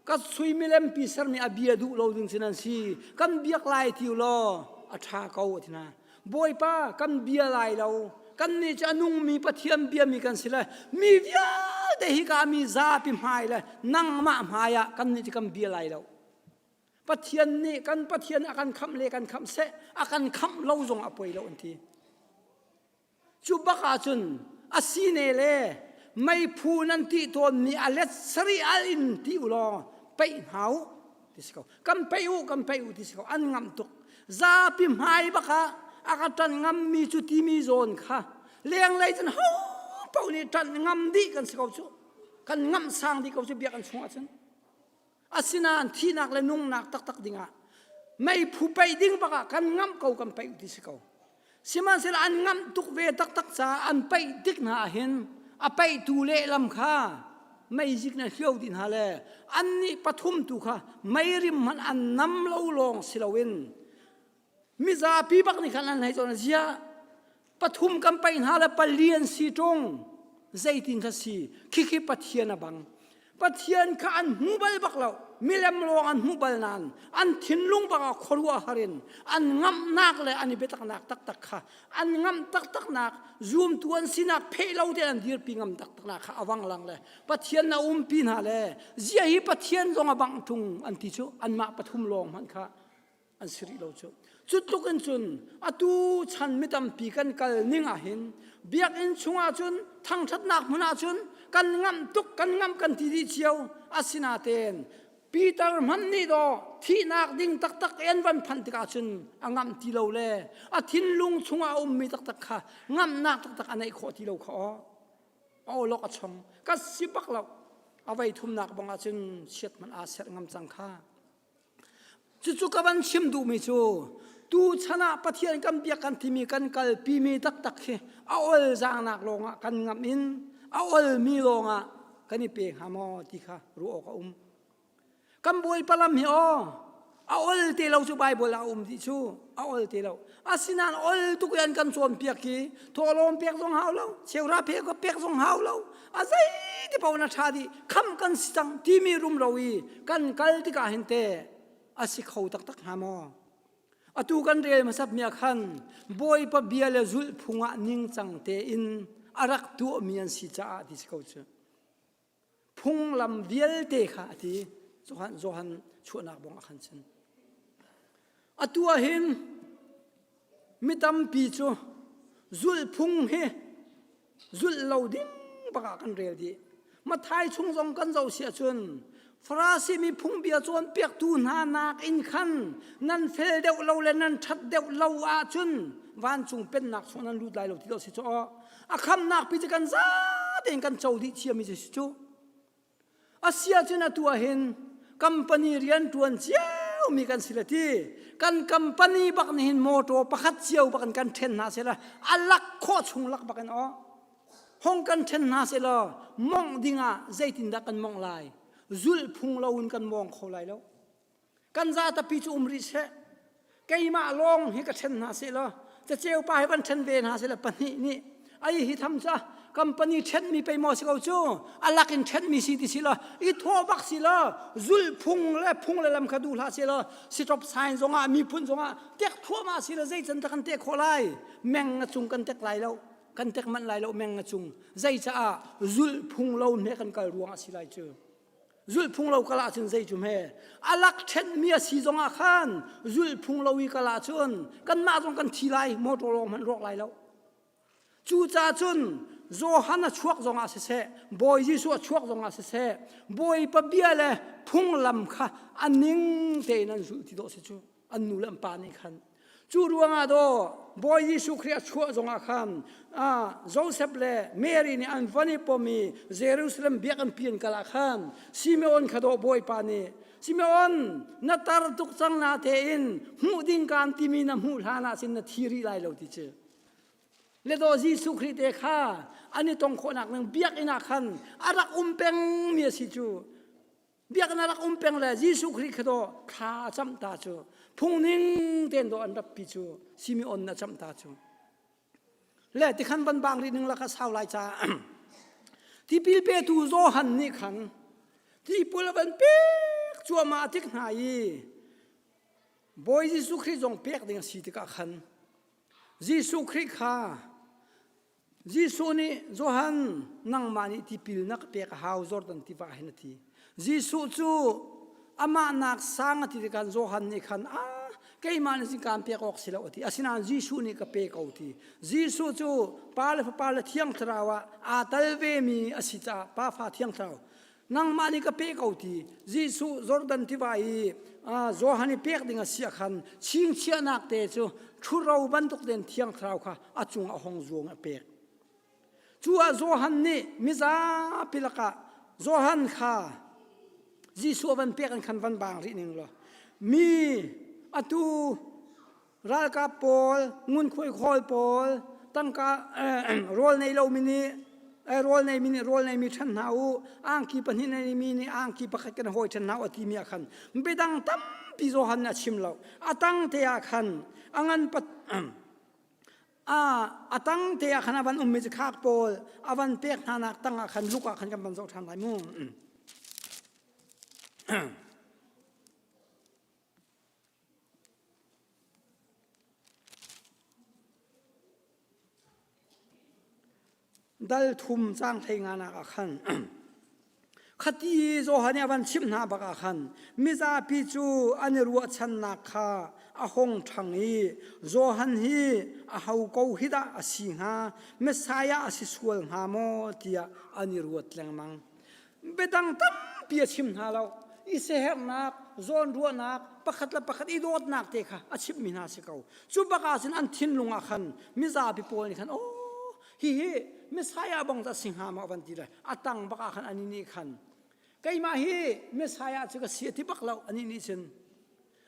ka sui milempi ser nih a bia duh lo ding si nan si kan biak lai ti law a ṭha ko a ti hna bawipa kan bia lai lo kannih cu a nungmi pathian biami kan si lai mi vialte hi ka mi zapi hmai le nangmah hmai ah kannih cu kan bia lai lo pathian nih kan pathian a kan khamh le kan khamh seh a kan khamh lo zong a poi lo an ti Cu bak ahcun a sine le meiphu nan tih tawnmi a let sarih al in ti u law peih hna u ti si ko. Kan peih u, kan peih u ti si ko. An ngamh tuk. Zapi hmai bak ah a ka ṭan ngammi cu timi zawn kha lenglei cun ho paoh nih ṭan ngam dih kan si ko cu. Kan ngamh sang dih ko cu biakinn chungah cun. Asinain thihnak le nungnak taktak dingah meiphu peih ding bak ah kan ngamh ko kan peih ti si ko. Sihmanhsehlaw an ngamh tuk ve taktak caah an peih tik hna ahhin a peihtu lehlam kha meizik na hrio ti hna le annih pathum tu kha meirim hmanh an nam lo lawng si loin Mizapi bak nih khan an hlei cun a zia. Pathum kan paih hna le pali an si ṭung. Zeitin ka si? Khikhi Pathian a bang. Pathian kha an hmu bal bak lo. Milem lawng an hmu bal nain an thinlung bangah khuaruah har in an ngamhnak le an i biataknak taktak kha an ngamh taktaknak zumtu an sinak pheh lo te an dirpi ngam taktaknak kha a vanglang le Pathian na umpi hna le zia hi Pathian zong a bang ṭung an ti cu anmah pathum lawng hmanh kha an si rih lo cu cu tluk in cun atu chan mi tampi kan kal ning ah hin biakinn chungah cun thangṭhatnak hmun ah cun kan ngamh tuk kan ngamh kan ti dih cio asinaten Peter hmanh nih do thihnak ding taktak en van phanh tikah cun a ngamh ti lo le a thinlung chungah a ummi taktak kha ngamhnak taktak a neih khawh ti lo kha aw a awlok a chong ka si bak lo a vei thumnak bang ah cun chiat man aa serh ngam cang kha Cucu ka van chim duhmi cu tuchan ah Pathian kan biak kan timi kan kalpimi taktak hi a olzangnak lawngah kan ngamh in a olmi lawngah kan i pe hnga maw ti kha ruah awk a um. Kan Bawipa lam hi aw a ol te lo cu Baibal ah a um ti cu a ol te lo. asinan ol tuk yan kan chuam piak hi thawlawm piak zong hau lo seura phe ko piak zong hau lo azai ti pona tha di kham kan si cang timi rum ro i kan kal tika hin te asi kho tak tak ha mo atu kan rel masap mia khan boy pa bia le zul phung ah ning cang te in arak tu mi an si cha ti si ko chu phunglam vialte kha a ti Johan Johan chuahnak bong ah khan cun atu ah hin mi tampi cu zulhphung hi zulh lo ding bak ah kan rel dih Mathai chung zong kan zoh siah cun Farasi mi phungbia cawn piaktu hna nak in khan nan fel deuh lo le nan ṭhat deuh lo ahcun vancung pennak chung nan lut lai lo ti lo si caw a khamnak pi cu kan za tein kan co dih thiammi cu cu asia cun atu ah hin company rian ṭuan ciomi kan si le ti kan company bak nih hin motor pakhat cio bak in kan ṭhen hna sela a lak khawh chung lak bak in aw hong kan ṭhen hna sela mongh ding ah zeitindah kan mongh lai zulhphung lo in kan mong kho lai lo kan za tapi cu um rih seh keimah lawng hi ka ṭhen hna seh law caceu pa hi van ṭhen ve hna seh law pahnih nih ai hi tham ca company ṭhenmi pei maw si ko cu alak in ṭhenmi si ti si law i thawhbak si law zulhphung le phung le lam kha duh hlah se law siṭop sign zongah miphun zongah tek thuahmah si law zeican ta kan tek khawh lai meng a cung kan tek lai lo kan tek manh lai lo meng a cung zeicaah zulhphung lo hne kan kal ruangah si lai cu zulhphung lo kala cun zei cu hme alak ṭhenmi a si zongah khan zulhphung lo i kala cun kanmah zong kan thi lai motor lawng hmanh ruak lai lo cuca cun Johan a chuak zongah siseh Bawi Jesuh a chuak zongah siseh Bawipa bia le phunglam kha a ning tein an zulh ti dawh si cu an nu le an pa nih khan cu ruangah daw bawi jesuh khrih a chuah zongah khan joseph le mary nih an van i pom i jerusalem biakinn pian kal ah khan simeon kha daw bawipa nih simeon na tar tuk cang na tein hmuh ding kaan timi na hmuh hlan ah cun na thi rih lai lo ti cu le daw jesuh khrih te kha an i tong khawhnak ning biakinn ah khan a rak um pengmi a si cu biaknak rak um peng le Jesuh Khrih kha do thla cam ta cu phungning tein do an rappi cu Simeon na cam ta cu le tikhan van bang ri ning laka sau lai ca tipil petu Johan nih khan tipul a van pek cuama a tik hna i Bawi Jesuh Khrih zong pek ding a si tikah khan Jesuh Khrih kha Jesuh nih Johan nangmah nih tipil na pek a hau Jordan tiva hin a ti. Jesuh cu amah nak sang a ti tikhan Johan nih khan a keimah nih cun kaan pek awk si lo a ti. Asinain Jesuh nih ka pe ko ti. Jesuh cu Pa le Fapa le Thiang Thlarau ah aa tel vemi a si caah Pa, Fa, Thiang Thlarau nangmah nih ka pe ko ti Jesuh Jordan tiva i Johan i pek ding a sia khan chingchiahnak te cu ṭhuro bantuk den thiang thlarau kha a cung a hong zuang a pek cu ah Johan nih mizapi lakah Johan kha Jesuh a van pek an khan van bang rih ning law mi atu ralkap pawl ngunkhuai khawl pawl tangka rawl nei lomi nih rawl neimi nih rawl neimi ṭhen hna u angki pahnih neimi nih angki pakhat kan hawi ṭhen hna u a timi ah khan midang tampi Johan nih a chim lo a tang te ah khan a ngan pat a tang te ah khan a van ummi cu khak pawl a van pek hnanak tang ah khan luk ah khan kan van zoh ṭhan lai mu. Dal thum cang hlei nga nak ah khan khati Johan nih a van chimh hna bak ah khan mizapi cu an i ruahchannak kha a hong ṭhang i Johan hi aho ko hi dah a si hnga Messiah a si sual hnga maw tiah an i ruat lengmang. biadang tampi a chim hna lo i sehernak zawnruahnak pakhat le pakhat i dawtnak te kha a chimhmi hna si ko cu bakah cun an thinlung ah khan mizapi pawl nih khan aw hihi messiah bang a si hnga ma van ti le a tang bakah khan ani nih khan keimah hi messiah cu ka si a ti bak lo ani nih cun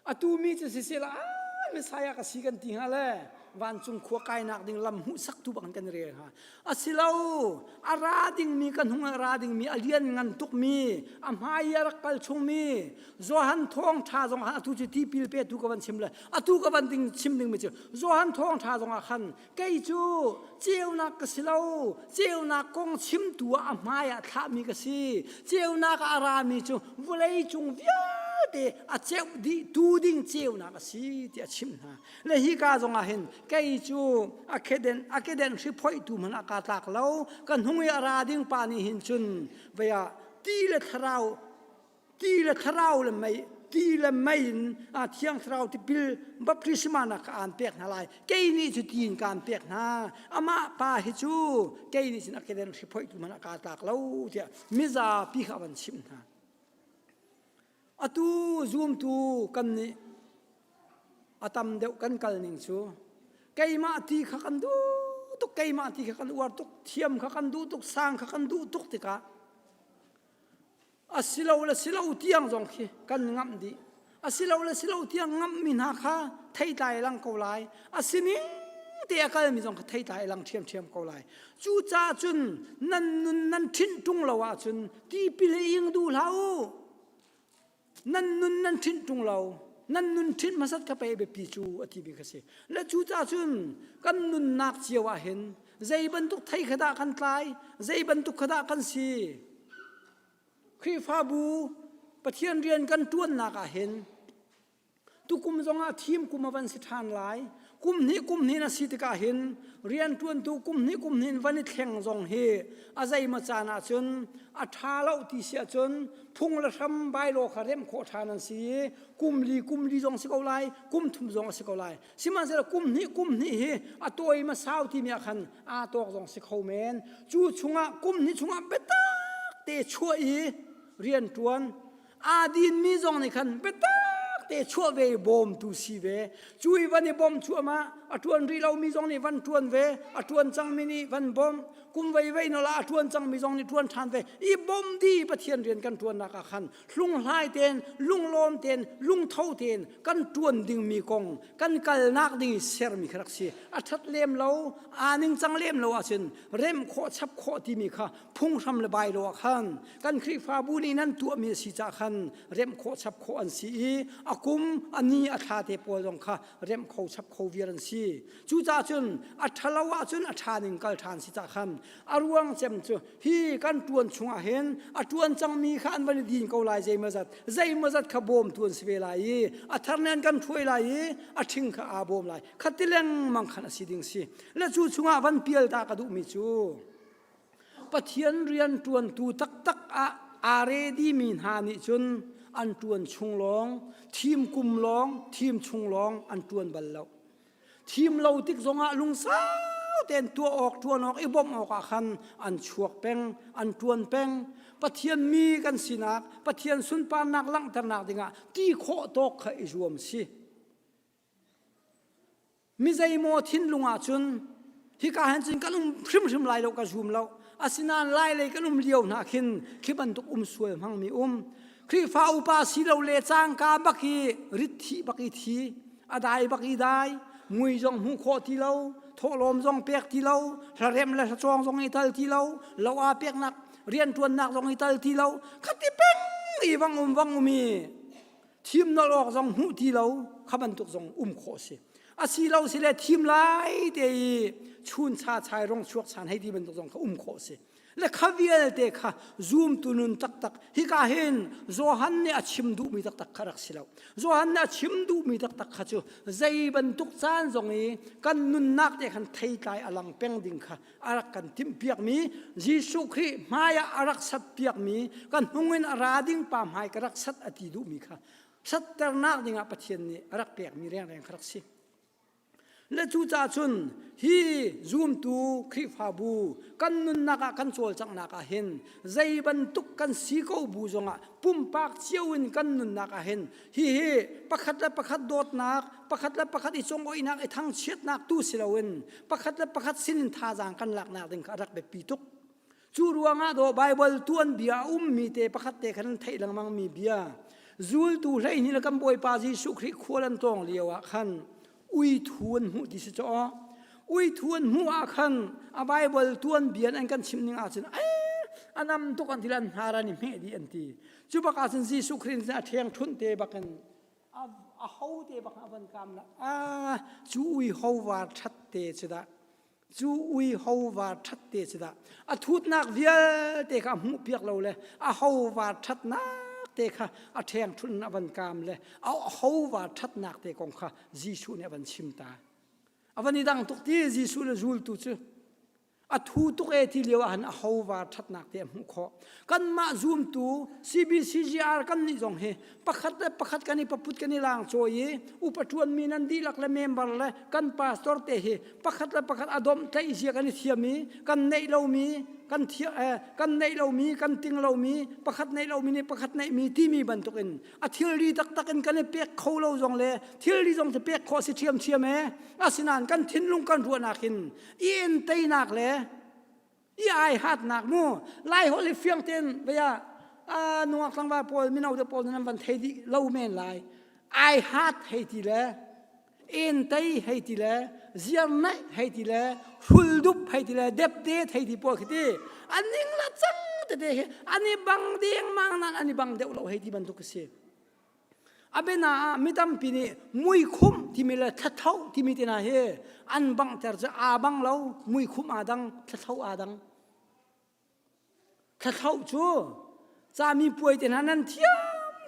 atu mi cu sisela a Messiah ka si kan ti hnga le vancung khua kainak ding lam hmuhsak tu bang kan rel hnga asilo a ra dingmi ka hnung a ra dingmi a lian ngan tukmi a hmai a rak kal chungmi Johan thawng tha zong atu cu tipil pe tu ka van chim le atu ka van ding chim dingmi cu Johan thawng tha zong ah khan kei cu ceunak ka si lo ceunak kong chimtu ah a hmai ah thlahmi ka si ceunak ah a rami cu vawlei cung vialte a ceuh dih tu ding ceunak a si tiah a chim hna le hi ka zongah hin kei cu akeden akeden hri phoitu hmanh ah kaa tlak lo ka hnung i a ra ding pa nih hin cun vaya ti le thlarau ti le thlarau le mei ti le mei in a thiang thlarau tipil baptisma nak ka aan pek hna lai kei nih cu tiin ka aan pek hna amah pa hi cu kei nih cun a keden hriphoitu man a kaa tlak lo tiah mizapi kha a van chim hna atu zumtu kan nih a tam deuh kan kal ning cu keimah ti kha kan duh tuk keimah ti kha kan uar tuk thiam kha kan duh tuk sang kha kan duh tuk tikah asilo le silo tiang zong khi kan ngamh dih asilo le silo tiang ngamhmi hna kha theitlai lang ko lai asining te a kalmi zong kha theitlai lang ṭhiamṭhiam ko lai cucaah cun nan nun nan ṭhinh ṭung lo ahcun tipil ing duh hlah u nan nun nan ṭhinh ṭung lo nan nun ṭhinh hmasat ka pe biapi cu a ti mi kha si le cucaah cun kan nunnak cio ah hin zei bantuk thei kha dah kan tlai zei bantuk kha dah kan si Khrihfabu Pathian rian kan ṭuannak ah hin tukum zongah thim kum a van si ṭhan lai kum hnih kum hnih na si tikah hin rian ṭuantu kum hnih kum hnih van i thleng zong hi a zeima caan ah cun a ṭha lo ti si ahcun phung le hram bailo kha remh khawh ṭhan an si i kum li kum li zong si ko lai kum thum zong a si ko lai sihmanhsehlaw kum hnih kum hnih hi a tawima sau timi ah khan aa tawk zong si kho men cu chungah kum hnih chungah biatak te chuah i rian ṭuan aa dinmi zong nih khan biatak te chuah ve bawmtu si ve cu i van i bawm chuahma a ṭuan rih lomi zong nih van ṭuan ve a ṭuan cangmi nih van bawm kum veivein ola a ṭuan cangmi zong nih ṭuan ṭhan ve i bawm di pathian rian kan ṭuannak ah khan hlunghlai ten lunglawm ten lungtho ten kan tuan dingmi kong kan kalnak ding i sermi kha rak si a ṭhat lem lo aa ning cang lem lo ahcun remh khawh chap khawh timi kha phunghram le bai lo ah khan kan Khrihfabu nih nan tuahmi a si cah khan remh khawh chap khawh an si i a kum a ni a thla te pawl zong kha remh kho chap kho viar an si cucahcun a ṭhalo ahcun a ṭha ning kal ṭhan si cah khan a ruang cem cu hi kan tuan chungah hin a tuan cangmi kha an van i din ko lai zeimaw zat zeimaw zat kha bawm tu an si ve lai i a thar nen kan thuai lai i a thing kha aa bawm lai khati lengmang khan a si ding si le cu chungah van pial ta ka duhmi cu pathian rian tuantu taktak ah aa ready mi hna nih cun an tuan chung lawng thim kum lawng thim chung lawng an tuan bal lo thim lo tik zongah lungsau tein tuah awk ṭuan awk i bawmh awkah khan an chuak peng an ṭuan peng Pathian mi kan sinak Pathian sunparnak langhternak dingah ti khawh tawk kha i zuam si mi zeimaw thinlung ah cun hika han cin kan um hrimhrim lai lo ka zum lo asinain lai lei kan um lio hna khin khi bantuk um sual hmang mi um Khrihfa upa si lo le cangka bak i rit thi bak i thi adai bak i dai ngui zong hmu kho ti lo thawlawm zong pek ti lo hlarem le hlacawng zong i tal ti lo lo a peknak riantuannak zong i tal ti lo khati peng i vang um vang umi thim lo awk zong hmuh ti lo kha bantuk zong um khawh si a si lo si le thim lai te i chun sa chai rong chuak san hei ti bantuk zong kha um khawh si le kha vialte kha zumtu nun taktak hika hin Johan nih a chim duhmi taktak kha rak si lo Johan nih a chim duhmi taktak kha cu zei bantuk caan zong i kan nunnak te khan thei tlai a lang peng ding kha a rak kan timhpiakmi Jesuh Khrih hmaiah a rak sat piakmi ka hnung in a ra ding pa hmai ka rak sat a ti duhmi kha satternak dingah Pathian nih a rak pekmi rengreng kha rak si le cucaah cun hi zumtu Khrihfabu kan nunnak ah kan cawlcanghnak ah hin zei bantuk kan si ko bu zongah pumpak cio in kan nunnak ah hin Hihi pakhat le pakhat dawtnak, pakhat le pakhat i cungoihnak i thangchiatnak tu si loin pakhat le pakhat sinin thazaang kan laknak ding kha a rak biapi tuk. Cu ruangah daw Baibal tuan bia a ummi te pakhat te khan an theih lengmangmi bia zultu hleihnih le kan Bawipa Jesuh Khrih khual an tlawng lio ah khan uithu an hmuh ti si caw uithu an hmuh ah khan a bible tuanbia an kan chim ning ahcun ai anam tuk an til an hnar an i hmeh di an ti cu bak ahcun Jesuh Christ nih a ṭheng ṭhunh te bakin a ho te bak a van kam la a cu ui ho var ṭhat te cu dah cu ui hova ṭhat te si dah a thutnak vialte kha a hmuh piak lo le a hova ṭhatnak te kha a ṭhengṭhun in a van kaam le a hova ṭhatnak te kong kha Jesuh nih a van chim ta a van i dang tuk ti Jesuh le zultu cu a thu tuk e ti lio ahhin a hova ṭhatnak te a hmuh khawh kanmah zumtu CBCGR kan nih zong hi pakhat le pakhat kan i paput kan i lang cawi i upatuan mi nan dihlak le member le kan pastor te hi pakhat le pakhat adom tlaih zia kan i thiam i kan neih lomi kan thia eh, kan neih lomi kan ting lomi pakhat neih lomi nih pakhat neih mi timi bantuk in a thilri taktak in kan i pek kho lo zong le thilri zong te pek kho si thiam thiam e asinain kan thinlung kan ruahnak in i en teinak le i ai hat nak mu lai holh i fiang ten vaya a nungak tlangva pawl mino te pawl nan van thei di lo men lai ai hat hei ti le en tei hei ti le ziar naih hei ti le hrul dup hei ti le dep te thei ti pawl khiti aning la cang te te hi ani bang deng mang nan ani bang deuh lo hei ti bantuk ka si Abena ah mi tampi nih muikhumh timi le thlatho timi te hna hi an banghter cu aa bang lo muikhumh aa dang thlatho aa dang thlatho cu cami puai te hna nan thiam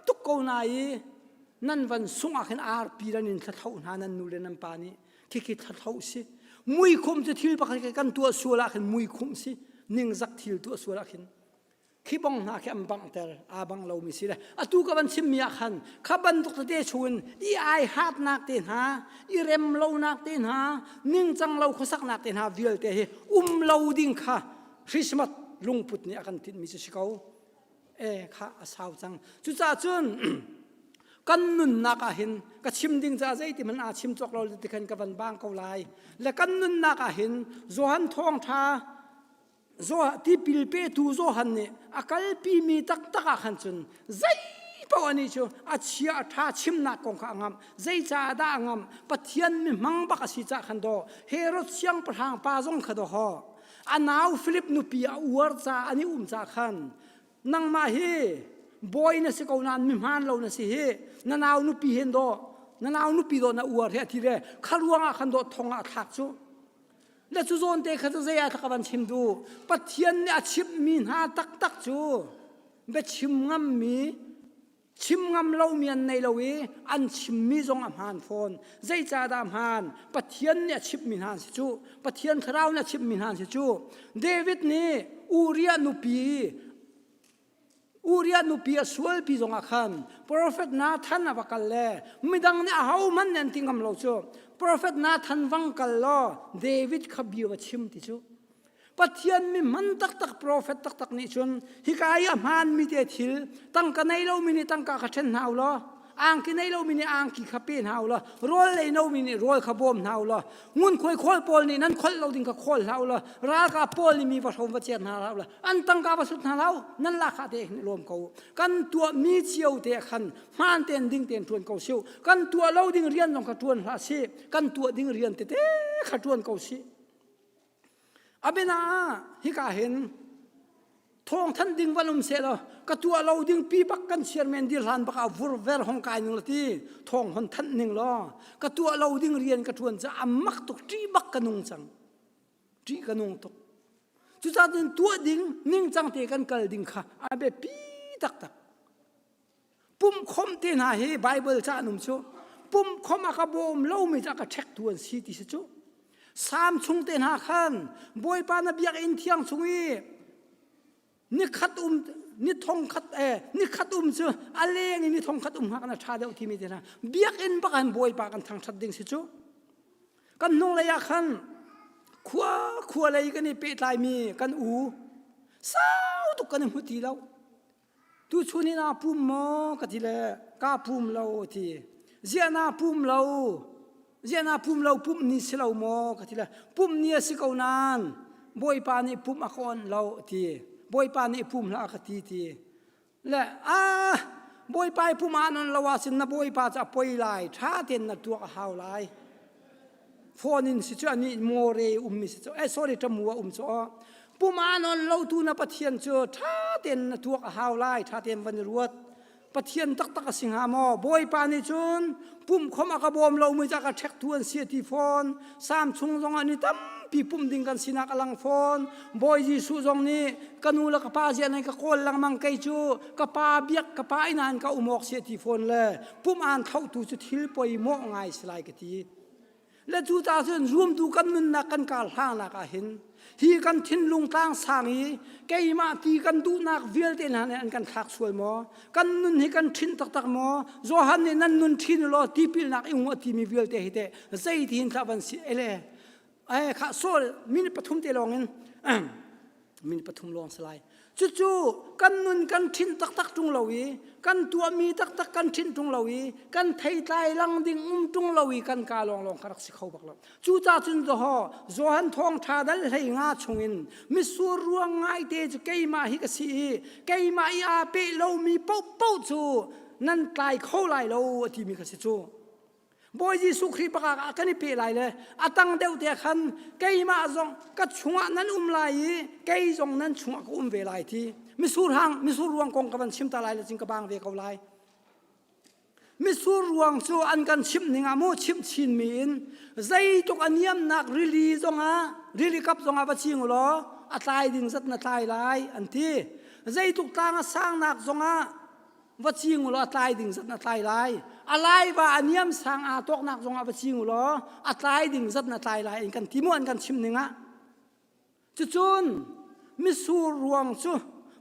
tuk ko na i nan van sungah khin arpi ran in thlatho hna nan nu le nan pa nih khikhi thlatho si muikhumh cu thil pakhat kan tuah sual ah khin muikhumh si ningzak thil tuah sual ah khin khipong hna khi an banghter aa bang lomi si le atu ka van chimmi ah khan kha bantuk tete chungin i ai hatnak te hna i rem lonak te hna ningcang lo khuasaknak te hna vialte hi um lo ding kha Christmas lungput nih a kan tinhmi si ko e kha a sau cang cucahcun kan nunnak ah hin ka chim ding ca zeiti man aa chim chok lo ti khan ka van bang ko lai le kan nunnak ah hin Johan thawngtha Zoah tipil petu Johan nih a kalpi mi taktak ah khan cun zei paoh anih cu a chia a ṭha chimnak kong kha a ngamh zeicah dah a ngamh Pathian mi hmang bak a si cah khan daw Herod siangpahrang pa zong kha daw hɔ a nau Filip nupi a uar ca an i um cah khan nangmah hi bawi na si ko nain mihmaan lo na si hi na nau nupi hen daw na nau nupi daw na uar hi a ti le kha ruangah khan daw thong ah a thlak cu na cu zawnte kha cu zei ah thak van chim du pathian nih a chimhmi hna taktak cu biachim ngammi chim ngam lomi an nei lo i an chimmi zong a hmaan fawn zeicahdah hmaan pathian nih a chimhmi hna si cu pathian thlarau nih a chimhmi hna si cu david nih uriah nupi Uriah nupi a sualpi zongah khan profet Nathan a va kal le midang nih a hohmanh nih an ti ngam lo cu profet Nathan vang kal law David kha bia va chim ti cu Pathian mi man taktak profet taktak nih cun hika i a hmaanmi te thil tangka nei lomi nih tangka kha ṭhen hna u law angki nei lo mi nih angki kha pe hna ula rawl lei no mi nih rawl kha bawm hna ula ngun khuai khawl pawl nih nan kholh lo ding ka khawl hlah ula ralkap pawl nih mi va hrom va ciat hna hlah ula an tangka va sut hna hlah nan lakha te lawm ko kan tuah mi cio te khan hman ten ding ten tuan ko siu kan tuah lo ding rian long ka tuan hla si kan tuah ding rian te te kha tuan ko si abena hika hin thong than ding van um se lo ka tua lo ding pi bak kan chairman dir hlan bak a vur ver hong kai ning lati thong hon than ning lo ka tua lo ding rian ka tuan cha amak tuk ti bak ka nung chang ti ka nung tuk cu ta tin tua ding ning chang te kan kal ding kha abe pi tak tak Pumkhom te hna hi Bible ca anum cu pumkhom a ka bawm lomi cu a ka ṭhektu an si ti si cu Sam chung te hna khan Bawipa na biakinn thiang chung i ni khat um ni thong khat eh ni khat um cu a leng i ni thong khat um hna kana ṭha deuh timi te hna biakinn bakan Bawipa kan thangṭhat ding si cu kan hnung lei ah khan khua khua lei kan i pehtlaimi kan u sau tuk kan i hmu ti lo tuchun in aa pum maw ka ti le kaa pum lo a ti ziah naa pum lo ziah naa pum lo pumh ni si lo maw ka ti le pumh ni a si ko nain bawipa nih pumh a ka awnh lo a ti bawipa nih pum hlah ka ti ti le a bawipa i pum ah nan lo ahcun na bawipa cu a poi lai ṭha tein na tuak a hau lai phone in si chu ani more um mi si chu eh sorry tamu a um chu puma non lo tu na pathian chu tha ten na tuak a hau lai tha ten van ruat pathian tak tak a singa mo boipa ni chun pum khom aka bom lo mu jaka thek tu an sia ti phone samsung zong ani tam pi pum ding kan sinak alang phone boy jisu zong ni kanu la ka pa zia nei ka kol lang mang kai chu ka pa biak ka pa inan ka umok sia ti phone le pum aan thotu cu thil poi mawh ngai si lai ka ti le cu ta cun rumtu kan nunnak kan kar hlangnak ah hin hi kan thinlung tlang sang i keimah ti kan duhnak vialte hna nih an kan thlak sual maw kan nun hi kan thin taktak maw johan nih nan nun thin u law tipilnak i ngu a timi vialte hi teh zei ti hin tlah van si ele eh kha sol minute pathum te lawngin minute pathum lawng si lai cucu kan nun kan thin taktak tung lo i kan tuahmi taktak kan thin tung lo i kan theitlai lang ding um tung lo i kan ka lawng lawng ka rak si kho bak lo cu ta cun do ho johan thong tha dal hlei nga chungin misur ruang ngai te cu keimah hi ka si i keimah i a pe lomi po po cu nan tlai kho lai lo a timi ka si cu Bawi Jesuh Khrih baka ah kan i pe lai le a tang deuh te khan keimah zong ka chungah nan um lai i kei zong nan chungah ka um ve lai ti misur hang misur ruang kong ka van chim ta lai le cing ka bang ve ko lai misur ruang cu an kan chimh ning ah mu chimh chinmi in zeitluk a niamnak rili zongah rili kap zongah va cing law a tlai ding zat na tlai lai an ti zeitluk tlang a sangnak zongah va ching ulaw a tlai ding zat na tlai lai a laiva a niam sang aa tawknak zong ah va ching ulaw a tlai ding zat na tlai lai in kan ti mu an kan chim ning ah cucun misur ruang cu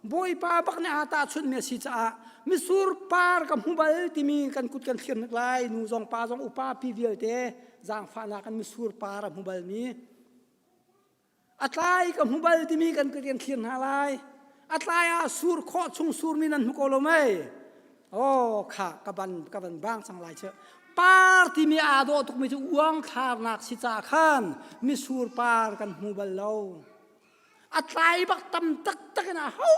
bawipa bak ne aa tahchunh mi a si caah misur par ka hmu bal timi kan kut kan thlir nak lai nu zong pa zong upa pi vialte zaangfahnak kan misur par a hmu bal mi a tlai ka hmu bal timi kan ka rian thlir hna lai a tlai ah sur khawh chung surmi nan hmu ko lo mei oh kha ka ban ka ban bang sang lai che par timi aa dawh tukmi cu uang thlarnak si ca khan misur par kan hmu bal lo a tlai bak tam taktak in a ho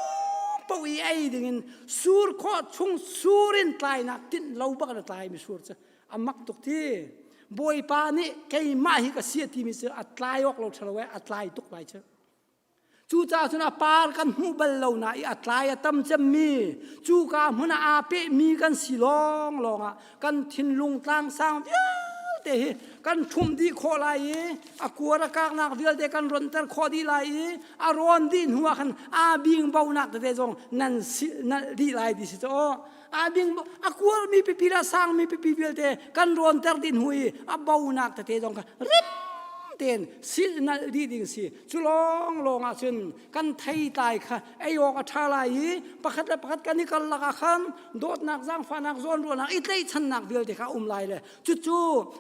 poh i ei dingin sur khawh chung sur in tlainak tinh lo bak na tlai misur cu a mak tuk ti bawipa nih keimah hi ka si a timi cu a tlai awk lo ṭhalo a tlai tuk lai cu cucaah cun a par kan hmuh bal lo na i a tlai a tam cemmi cuka hmun ah aa pehmi kan si lawng lawng ah kan thinlung tlangsang vialte hi kan ṭhumh dih khawh lai i a kuar a kaknak vialte kan ronter khawh dih lai i a rawn dih hnuah khan aa bingbonak tete zong nan dih lai ti si caw a ding a kual mi pipi le sang mi pipi vialte kan rawn ter dih hnu i a bonak tete zong ka rip tein sil nal dih ding si cu lawng lawng ah cun kan thei tlai kha ei awk a ṭha lai i pakhat le pakhat kan i kal lak ah khan dawtnak zaangfahnak zawn ruahnak i tlaihchannak vialte kha um lai le cucu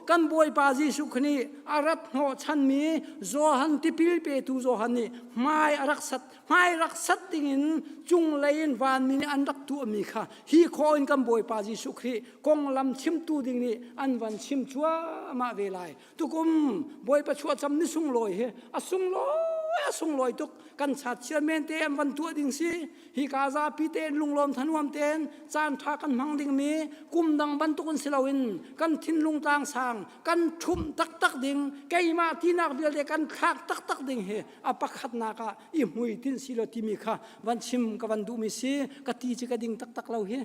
kan bawipa Jesuh Khrist nih a rat hnawhchan mi Johan tipil petu Johan nih hmai a rak sat hmai rak sat dingin cunglei in vanmi nih an rak tuahmi kha hi khaw in kan bawipa Jesuh Khrih konglam chimtu ding nih an van chim cuahmah ve lai tukum bawipa chuahcam ni sunglawi hi a sunglawi a sunglawi tuk kan chat chia men te an van tuah ding si hi ka zapi tein lunglawm thanuam tein caan tha kan hmang dingmi kum dang bantukin si loin kan thinlung tang sang kan ṭhumh taktak ding keimah tinak vialte kan khak taktak ding hi a pakhatnak ah i hmuitinh si lo timi kha van chim ka van duhmi si ka ti ci ka ding taktak lo hi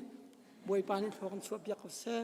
bawipa nih thlo kan chuah piak ko seh